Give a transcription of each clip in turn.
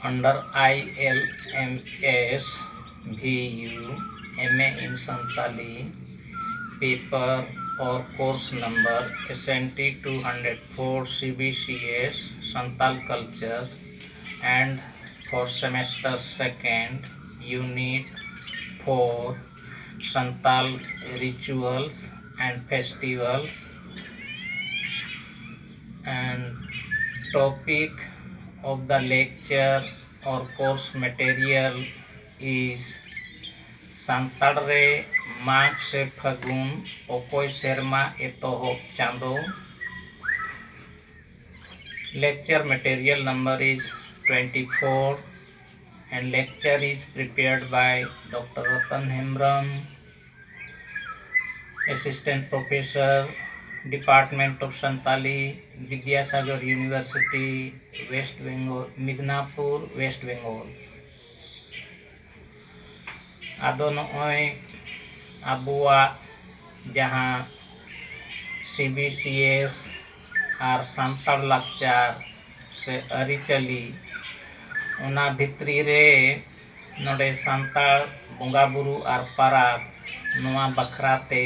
Under I L M S V U M A in Santali paper or course number S N T two hundred four C B C S Santal culture and four semester second unit four Santal rituals and festivals and topic of the lecture or course material is Santal ᱨᱮ ᱢᱟᱜᱽ ᱥᱮ ᱯᱷᱟᱹᱜᱩᱱ ᱚᱠᱚᱭ ᱥᱮᱨᱢᱟ ᱮᱛᱚᱦᱚᱵ ᱪᱟᱸᱫᱚ lecture material number is twenty four and lecture is prepared by doctor Ratan Hembrom assistant professor department of Santali Vidyasagar university west Bengal Midnapore west Bengal ᱟᱫᱚ ᱱᱚᱜᱼᱚᱭ ᱟᱵᱚᱣᱟᱜ ᱡᱟᱦᱟᱸ ᱥᱤ ᱵᱤ ᱥᱤ ᱮᱥ ᱟᱨ ᱥᱟᱱᱛᱟᱲ ᱞᱟᱠᱪᱟᱨ ᱥᱮ ᱟᱹᱨᱤᱪᱟᱹᱞᱤ ᱚᱱᱟ ᱵᱷᱤᱛᱨᱤ ᱨᱮ ᱱᱚᱰᱮ ᱥᱟᱱᱛᱟᱲ ᱵᱚᱸᱜᱟ ᱵᱩᱨᱩ ᱟᱨ ᱯᱟᱨᱟᱵᱽ ᱱᱚᱣᱟ ᱵᱟᱠᱷᱨᱟ ᱛᱮ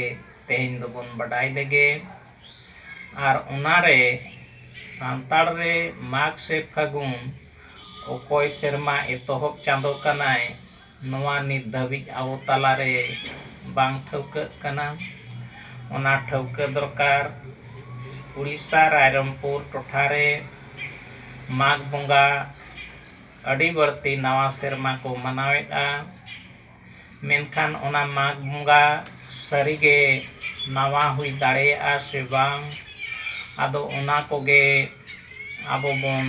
ᱛᱮᱦᱮᱧ ᱫᱚᱵᱚᱱ ᱵᱟᱰᱟᱭ ᱞᱮᱜᱮ ᱟᱨ ᱚᱱᱟ ᱨᱮ ᱥᱟᱱᱛᱟᱲ ᱨᱮ ᱢᱟᱜᱽ ᱥᱮ ᱯᱷᱟᱹᱜᱩᱱ ᱚᱠᱚᱭ ᱥᱮᱨᱢᱟ ᱮᱛᱚᱦᱚᱵ ᱪᱟᱸᱫᱚ ᱠᱟᱱᱟᱭ ᱱᱚᱣᱟ ᱱᱤᱛ ᱫᱷᱟᱹᱵᱤᱡ ᱟᱵᱚ ᱛᱟᱞᱟ ᱨᱮ ᱵᱟᱝ ᱴᱷᱟᱹᱣᱠᱟᱹᱜ ᱠᱟᱱᱟ᱾ ᱚᱱᱟ ᱴᱷᱟᱹᱣᱠᱟᱹ ᱫᱚᱨᱠᱟᱨ᱾ ᱩᱲᱤᱥᱥᱟ ᱨᱟᱭᱨᱚᱝᱯᱩᱨ ᱴᱚᱴᱷᱟ ᱨᱮ ᱢᱟᱜᱽ ᱵᱚᱸᱜᱟ ᱟᱹᱰᱤ ᱵᱟᱹᱲᱛᱤ ᱱᱟᱣᱟ ᱥᱮᱨᱢᱟ ᱠᱚ ᱢᱟᱱᱟᱣᱮᱫᱼᱟ᱾ ᱢᱮᱱᱠᱷᱟᱱ ᱚᱱᱟ ᱢᱟᱜᱽ ᱵᱚᱸᱜᱟ ᱥᱟᱹᱨᱤ ᱜᱮ ᱱᱟᱣᱟ ᱦᱩᱭ ᱫᱟᱲᱮᱭᱟᱜᱼᱟ ᱥᱮ ᱵᱟᱝ? ᱟᱫᱚ ᱚᱱᱟ ᱠᱚᱜᱮ ᱟᱵᱚ ᱵᱚᱱ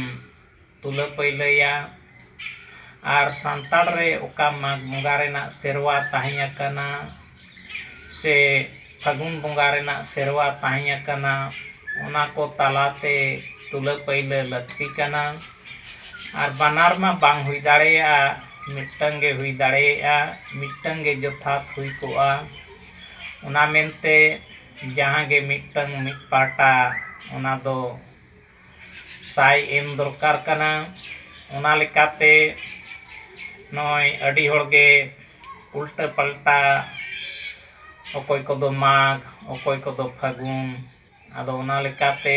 ᱛᱩᱞᱟᱹ ᱯᱟᱹᱭᱞᱟᱹᱭᱟ ᱟᱨ ᱥᱟᱱᱛᱟᱲ ᱨᱮ ᱚᱠᱟ ᱢᱟᱜᱽ ᱵᱚᱸᱜᱟ ᱨᱮᱱᱟᱜ ᱥᱮᱨᱣᱟ ᱛᱟᱦᱮᱸ ᱟᱠᱟᱱᱟ ᱥᱮ ᱯᱷᱟᱹᱜᱩᱱ ᱵᱚᱸᱜᱟ ᱨᱮᱱᱟᱜ ᱥᱮᱨᱣᱟ ᱛᱟᱦᱮᱸ ᱟᱠᱟᱱᱟ ᱚᱱᱟ ᱠᱚ ᱛᱟᱞᱟᱛᱮ ᱛᱩᱞᱟᱹ ᱯᱟᱹᱭᱞᱟᱹ ᱞᱟᱹᱠᱛᱤ ᱠᱟᱱᱟ ᱟᱨ ᱵᱟᱱᱟᱨ ᱢᱟ ᱵᱟᱝ ᱦᱩᱭ ᱫᱟᱲᱮᱭᱟᱜᱼᱟ ᱢᱤᱫᱴᱟᱹᱝ ᱜᱮ ᱦᱩᱭ ᱫᱟᱲᱮᱭᱟᱜᱼᱟ ᱢᱤᱫᱴᱟᱹᱝ ᱜᱮ ᱡᱚᱛᱷᱟᱛ ᱦᱩᱭ ᱠᱚᱜᱼᱟ ᱚᱱᱟ ᱢᱮᱱᱛᱮ ᱡᱟᱦᱟᱸ ᱜᱮ ᱢᱤᱫᱴᱟᱹᱝ ᱢᱤᱫ ᱯᱟᱦᱴᱟ ᱚᱱᱟ ᱫᱚ ᱥᱟᱭ ᱮᱢ ᱫᱚᱨᱠᱟᱨ ᱠᱟᱱᱟ ᱚᱱᱟ ᱞᱮᱠᱟᱛᱮ ᱱᱚᱜᱼᱚᱭ ᱟᱹᱰᱤ ᱦᱚᱲ ᱜᱮ ᱩᱞᱴᱟᱹ ᱯᱟᱞᱴᱟ ᱚᱠᱚᱭ ᱠᱚᱫᱚ ᱢᱟᱜᱽ ᱚᱠᱚᱭ ᱠᱚᱫᱚ ᱯᱷᱟᱹᱜᱩᱱ ᱟᱫᱚ ᱚᱱᱟ ᱞᱮᱠᱟᱛᱮ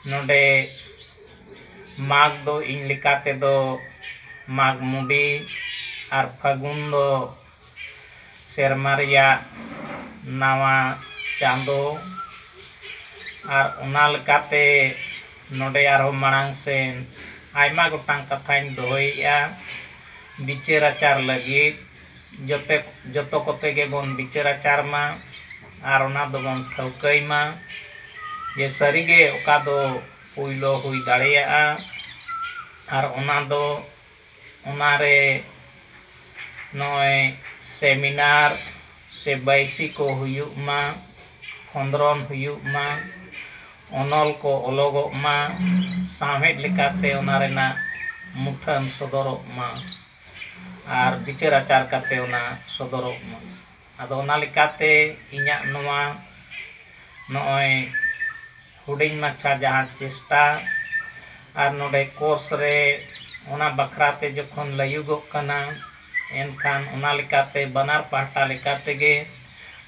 ᱱᱚᱰᱮ ᱢᱟᱜᱽ ᱫᱚ ᱤᱧ ᱞᱮᱠᱟ ᱛᱮᱫᱚ ᱢᱟᱜᱽ ᱢᱩᱰᱤ ᱟᱨ ᱯᱷᱟᱹᱜᱩᱱ ᱫᱚ ᱥᱮᱨᱢᱟ ᱨᱮᱭᱟᱜ ᱱᱟᱣᱟ ᱪᱟᱸᱫᱚ ᱟᱨ ᱚᱱᱟ ᱞᱮᱠᱟᱛᱮ ᱱᱚᱰᱮ ᱟᱨᱦᱚᱸ ᱢᱟᱲᱟᱝ ᱥᱮᱱ ᱟᱭᱢᱟ ᱜᱚᱴᱟᱝ ᱠᱟᱛᱷᱟᱧ ᱫᱚᱦᱚᱭᱮᱫᱼᱟ ᱵᱤᱪᱟᱹᱨ ᱟᱪᱟᱨ ᱞᱟᱹᱜᱤᱫ ᱡᱚᱛᱚ ᱡᱚᱛᱚ ᱠᱚᱛᱮ ᱜᱮᱵᱚᱱ ᱵᱤᱪᱟᱹᱨ ᱟᱪᱟᱨ ᱢᱟ ᱟᱨ ᱚᱱᱟ ᱫᱚᱵᱚᱱ ᱴᱷᱟᱹᱣᱠᱟᱹᱭ ᱢᱟ ᱡᱮ ᱥᱟᱹᱨᱤᱜᱮ ᱚᱠᱟ ᱫᱚ ᱯᱳᱭᱞᱳ ᱦᱩᱭ ᱫᱟᱲᱮᱭᱟᱜᱼᱟ ᱟᱨ ᱚᱱᱟ ᱫᱚ ᱚᱱᱟ ᱨᱮ ᱱᱚᱜᱼᱚᱭ ᱥᱮᱢᱤᱱᱟᱨ ᱥᱮ ᱵᱟᱹᱭᱥᱤ ᱠᱚ ᱦᱩᱭᱩᱜ ᱢᱟ ᱠᱷᱚᱸᱫᱽᱨᱚᱱ ᱦᱩᱭᱩᱜ ᱢᱟ ᱚᱱᱚᱞ ᱠᱚ ᱚᱞᱚᱜᱚᱜ ᱢᱟ ᱥᱟᱶᱦᱮᱫ ᱞᱮᱠᱟᱛᱮ ᱚᱱᱟ ᱨᱮᱱᱟᱜ ᱢᱩᱴᱷᱟᱹᱱ ᱥᱚᱫᱚᱨᱚᱜ ᱢᱟ ᱟᱨ ᱵᱤᱪᱟᱹᱨ ᱟᱪᱟᱨ ᱠᱟᱛᱮᱫ ᱚᱱᱟ ᱥᱚᱫᱚᱨᱚᱜ ᱢᱟ ᱟᱫᱚ ᱚᱱᱟ ᱞᱮᱠᱟᱛᱮ ᱤᱧᱟᱹᱜ ᱱᱚᱣᱟ ᱱᱚᱜᱼᱚᱭ ᱦᱩᱰᱤᱧ ᱢᱟᱪᱷᱟ ᱡᱟᱦᱟᱸ ᱪᱮᱥᱴᱟ ᱟᱨ ᱱᱚᱰᱮ ᱠᱳᱨᱥ ᱨᱮ ᱚᱱᱟ ᱵᱟᱠᱷᱨᱟ ᱛᱮ ᱡᱚᱠᱷᱚᱱ ᱞᱟᱹᱭᱩᱜᱚᱜ ᱠᱟᱱᱟ ᱮᱱᱠᱷᱟᱱ ᱚᱱᱟ ᱞᱮᱠᱟᱛᱮ ᱵᱟᱱᱟᱨ ᱯᱟᱦᱴᱟ ᱞᱮᱠᱟ ᱛᱮᱜᱮ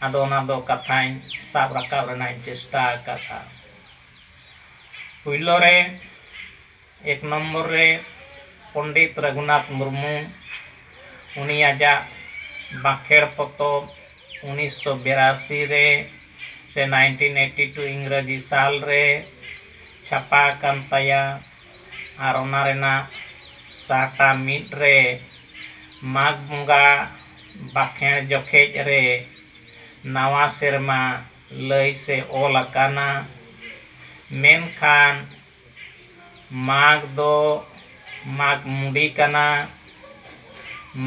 ᱟᱫᱚ ᱚᱱᱟ ᱫᱚ ᱠᱟᱛᱷᱟᱧ ᱥᱟᱵ ᱨᱟᱠᱟᱵ ᱨᱮᱱᱟᱜ ᱤᱧ ᱪᱮᱥᱴᱟ ᱟᱠᱟᱫᱼᱟ ᱯᱳᱭᱞᱳ ᱨᱮ ᱮᱠ ᱱᱚᱢᱵᱚᱨ ᱨᱮ ᱯᱚᱱᱰᱤᱛ ᱨᱟᱹᱜᱷᱩᱱᱟᱛᱷ ᱢᱩᱨᱢᱩ ᱩᱱᱤ ᱟᱡᱟᱜ ᱵᱟᱸᱠᱷᱮᱬ ᱯᱚᱛᱚᱵ ᱩᱱᱤᱥᱥᱚ ᱵᱤᱨᱟᱥᱤ ᱨᱮ ᱥᱮ ᱱᱟᱭᱤᱱᱴᱤᱱ ᱮᱭᱤᱴᱤ ᱴᱩ ᱤᱝᱨᱟᱹᱡᱤ ᱥᱟᱞ ᱨᱮ ᱪᱷᱟᱯᱟ ᱟᱠᱟᱱ ᱛᱟᱭᱟ ᱟᱨ ᱚᱱᱟ ᱨᱮᱱᱟᱜ ᱥᱟᱦᱴᱟ ᱢᱤᱫ ᱨᱮ ᱢᱟᱜᱽ ᱵᱚᱸᱜᱟ ᱵᱟᱸᱠᱷᱮᱬ ᱡᱚᱠᱷᱮᱡ ᱨᱮ ᱱᱟᱣᱟ ᱥᱮᱨᱢᱟ ᱞᱟᱹᱭ ᱥᱮ ᱚᱞ ᱟᱠᱟᱱᱟ ᱢᱮᱱᱠᱷᱟᱱ ᱢᱟᱜᱽ ᱫᱚ ᱢᱟᱜᱽ ᱢᱩᱰᱤ ᱠᱟᱱᱟ᱾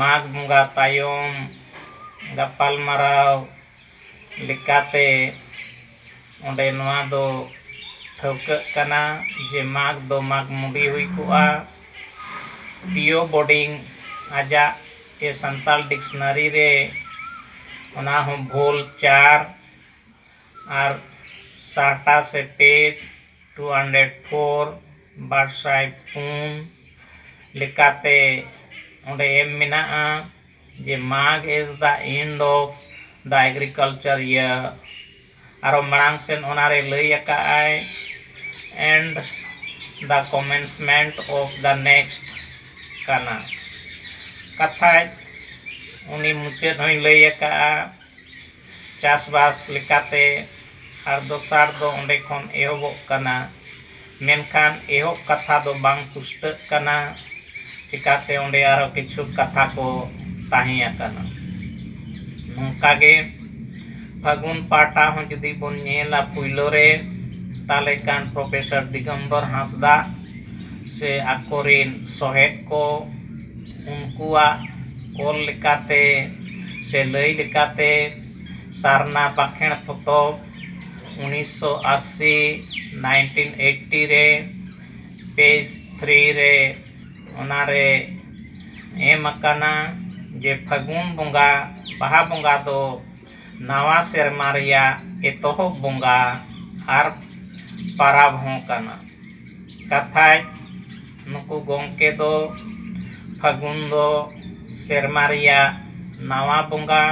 ᱢᱟᱜᱽ ᱵᱚᱸᱜᱟ ᱛᱟᱭᱚᱢ ᱜᱟᱯᱟᱞᱢᱟᱨᱟᱣ ᱞᱮᱠᱟᱛᱮ ᱚᱸᱰᱮ ᱱᱚᱣᱟ ᱫᱚ ᱴᱷᱟᱹᱣᱠᱟᱹᱜ ᱠᱟᱱᱟ ᱡᱮ ᱢᱟᱜᱽ ᱫᱚ ᱢᱟᱜᱽ ᱢᱩᱰᱤ ᱦᱩᱭ ᱠᱚᱜᱼᱟ᱾ ᱯᱤᱭᱳ ᱵᱳᱰᱤᱝ ᱟᱡᱟᱜ ᱮ ᱥᱟᱱᱛᱟᱲ ᱰᱤᱠᱥᱱᱟᱨᱤ ᱨᱮ ᱚᱱᱟ ᱦᱚᱸ ᱵᱷᱳᱞ ᱪᱟᱨ᱾ ᱟᱨ ᱥᱟᱦᱴᱟ ᱥᱮ ᱴᱮᱡᱽ ᱫᱩ ᱥᱟᱭ ᱯᱩᱱ ᱵᱟᱨ ᱥᱟᱭ ᱯᱩᱱ ᱞᱮᱠᱟᱛᱮ ᱚᱸᱰᱮ ᱮᱢ ᱢᱮᱱᱟᱜᱼᱟ ᱡᱮ Magh is the end of the agricultural year ᱟᱨᱚ ᱢᱟᱲᱟᱝ ᱥᱮᱫ ᱚᱱᱟ ᱨᱮ ᱞᱟᱹᱭ ᱟᱠᱟᱫᱼᱟᱭ and the commencement of the next ᱠᱟᱱᱟ ᱠᱟᱛᱷᱟᱡ ᱩᱱᱤ ᱢᱩᱪᱟᱹᱫ ᱦᱚᱸᱭ ᱞᱟᱹᱭ ᱟᱠᱟᱫᱼᱟ ᱪᱟᱥᱵᱟᱥ ᱞᱮᱠᱟᱛᱮ ᱟᱨ ᱫᱚᱥᱟᱨ ᱫᱚ ᱚᱸᱰᱮ ᱠᱷᱚᱱ ᱮᱦᱚᱵᱚᱜ ᱠᱟᱱᱟ ᱢᱮᱱᱠᱷᱟᱱ ᱮᱦᱚᱵ ᱠᱟᱛᱷᱟ ᱫᱚ ᱵᱟᱝ ᱯᱩᱥᱴᱟᱹᱜ ᱠᱟᱱᱟ ᱪᱤᱠᱟᱹᱛᱮ ᱚᱸᱰᱮ ᱟᱨᱚ ᱠᱤᱪᱷᱩ ᱠᱟᱛᱷᱟ ᱠᱚ ᱛᱟᱦᱮᱸ ᱟᱠᱟᱱᱟ ᱱᱚᱝᱠᱟ ᱜᱮ ᱯᱷᱟᱹᱜᱩᱱ ᱯᱟᱦᱴᱟ ᱦᱚᱸ ᱡᱩᱫᱤ ᱵᱚᱱ ᱧᱮᱞᱟ ᱯᱩᱭᱞᱩ ᱨᱮ ᱛᱟᱦᱚᱞᱮ ᱠᱷᱟᱱ ᱯᱨᱚᱯᱷᱮᱥᱚᱨ ᱫᱤᱜᱚᱢᱵᱚᱨ ᱦᱟᱸᱥᱫᱟ ᱥᱮ ᱟᱠᱚ ᱨᱮᱱ ᱥᱚᱦᱮᱫ ᱠᱚ ᱩᱱᱠᱩᱣᱟᱜ ᱚᱞ ᱞᱮᱠᱟᱛᱮ ᱥᱮ ᱞᱟᱹᱭ ᱞᱮᱠᱟᱛᱮ ᱥᱟᱨᱱᱟ ᱵᱟᱸᱠᱷᱮᱬ ᱯᱚᱛᱚᱵ ᱩᱱᱤᱥᱥᱚ ᱟᱹᱥᱤ ᱱᱟᱭᱤᱱᱴᱤᱱ ᱮᱭᱤᱴᱴᱤ ᱨᱮ ᱯᱮᱡᱽ ᱛᱷᱨᱤ ᱨᱮ ᱚᱱᱟ ᱨᱮ ᱮᱢ ᱟᱠᱟᱱᱟ ᱡᱮ ᱯᱷᱟᱹᱜᱩᱱ ᱵᱚᱸᱜᱟ ᱵᱟᱦᱟ ᱵᱚᱸᱜᱟ ᱫᱚ ᱱᱟᱣᱟ ᱥᱮᱨᱢᱟ ᱨᱮᱭᱟᱜ ᱮᱛᱚᱦᱚᱵ ᱵᱚᱸᱜᱟ ᱟᱨ ᱯᱟᱨᱟᱵᱽ ᱦᱚᱸ ᱠᱟᱱᱟ᱾ ᱠᱟᱛᱷᱟᱡ ᱱᱩᱠᱩ ᱜᱚᱢᱠᱮ ᱫᱚ ᱯᱷᱟᱹᱜᱩᱱ ᱫᱚ ᱥᱮᱨᱢᱟ ᱨᱮᱭᱟᱜ ᱱᱟᱣᱟ ᱵᱚᱸᱜᱟ,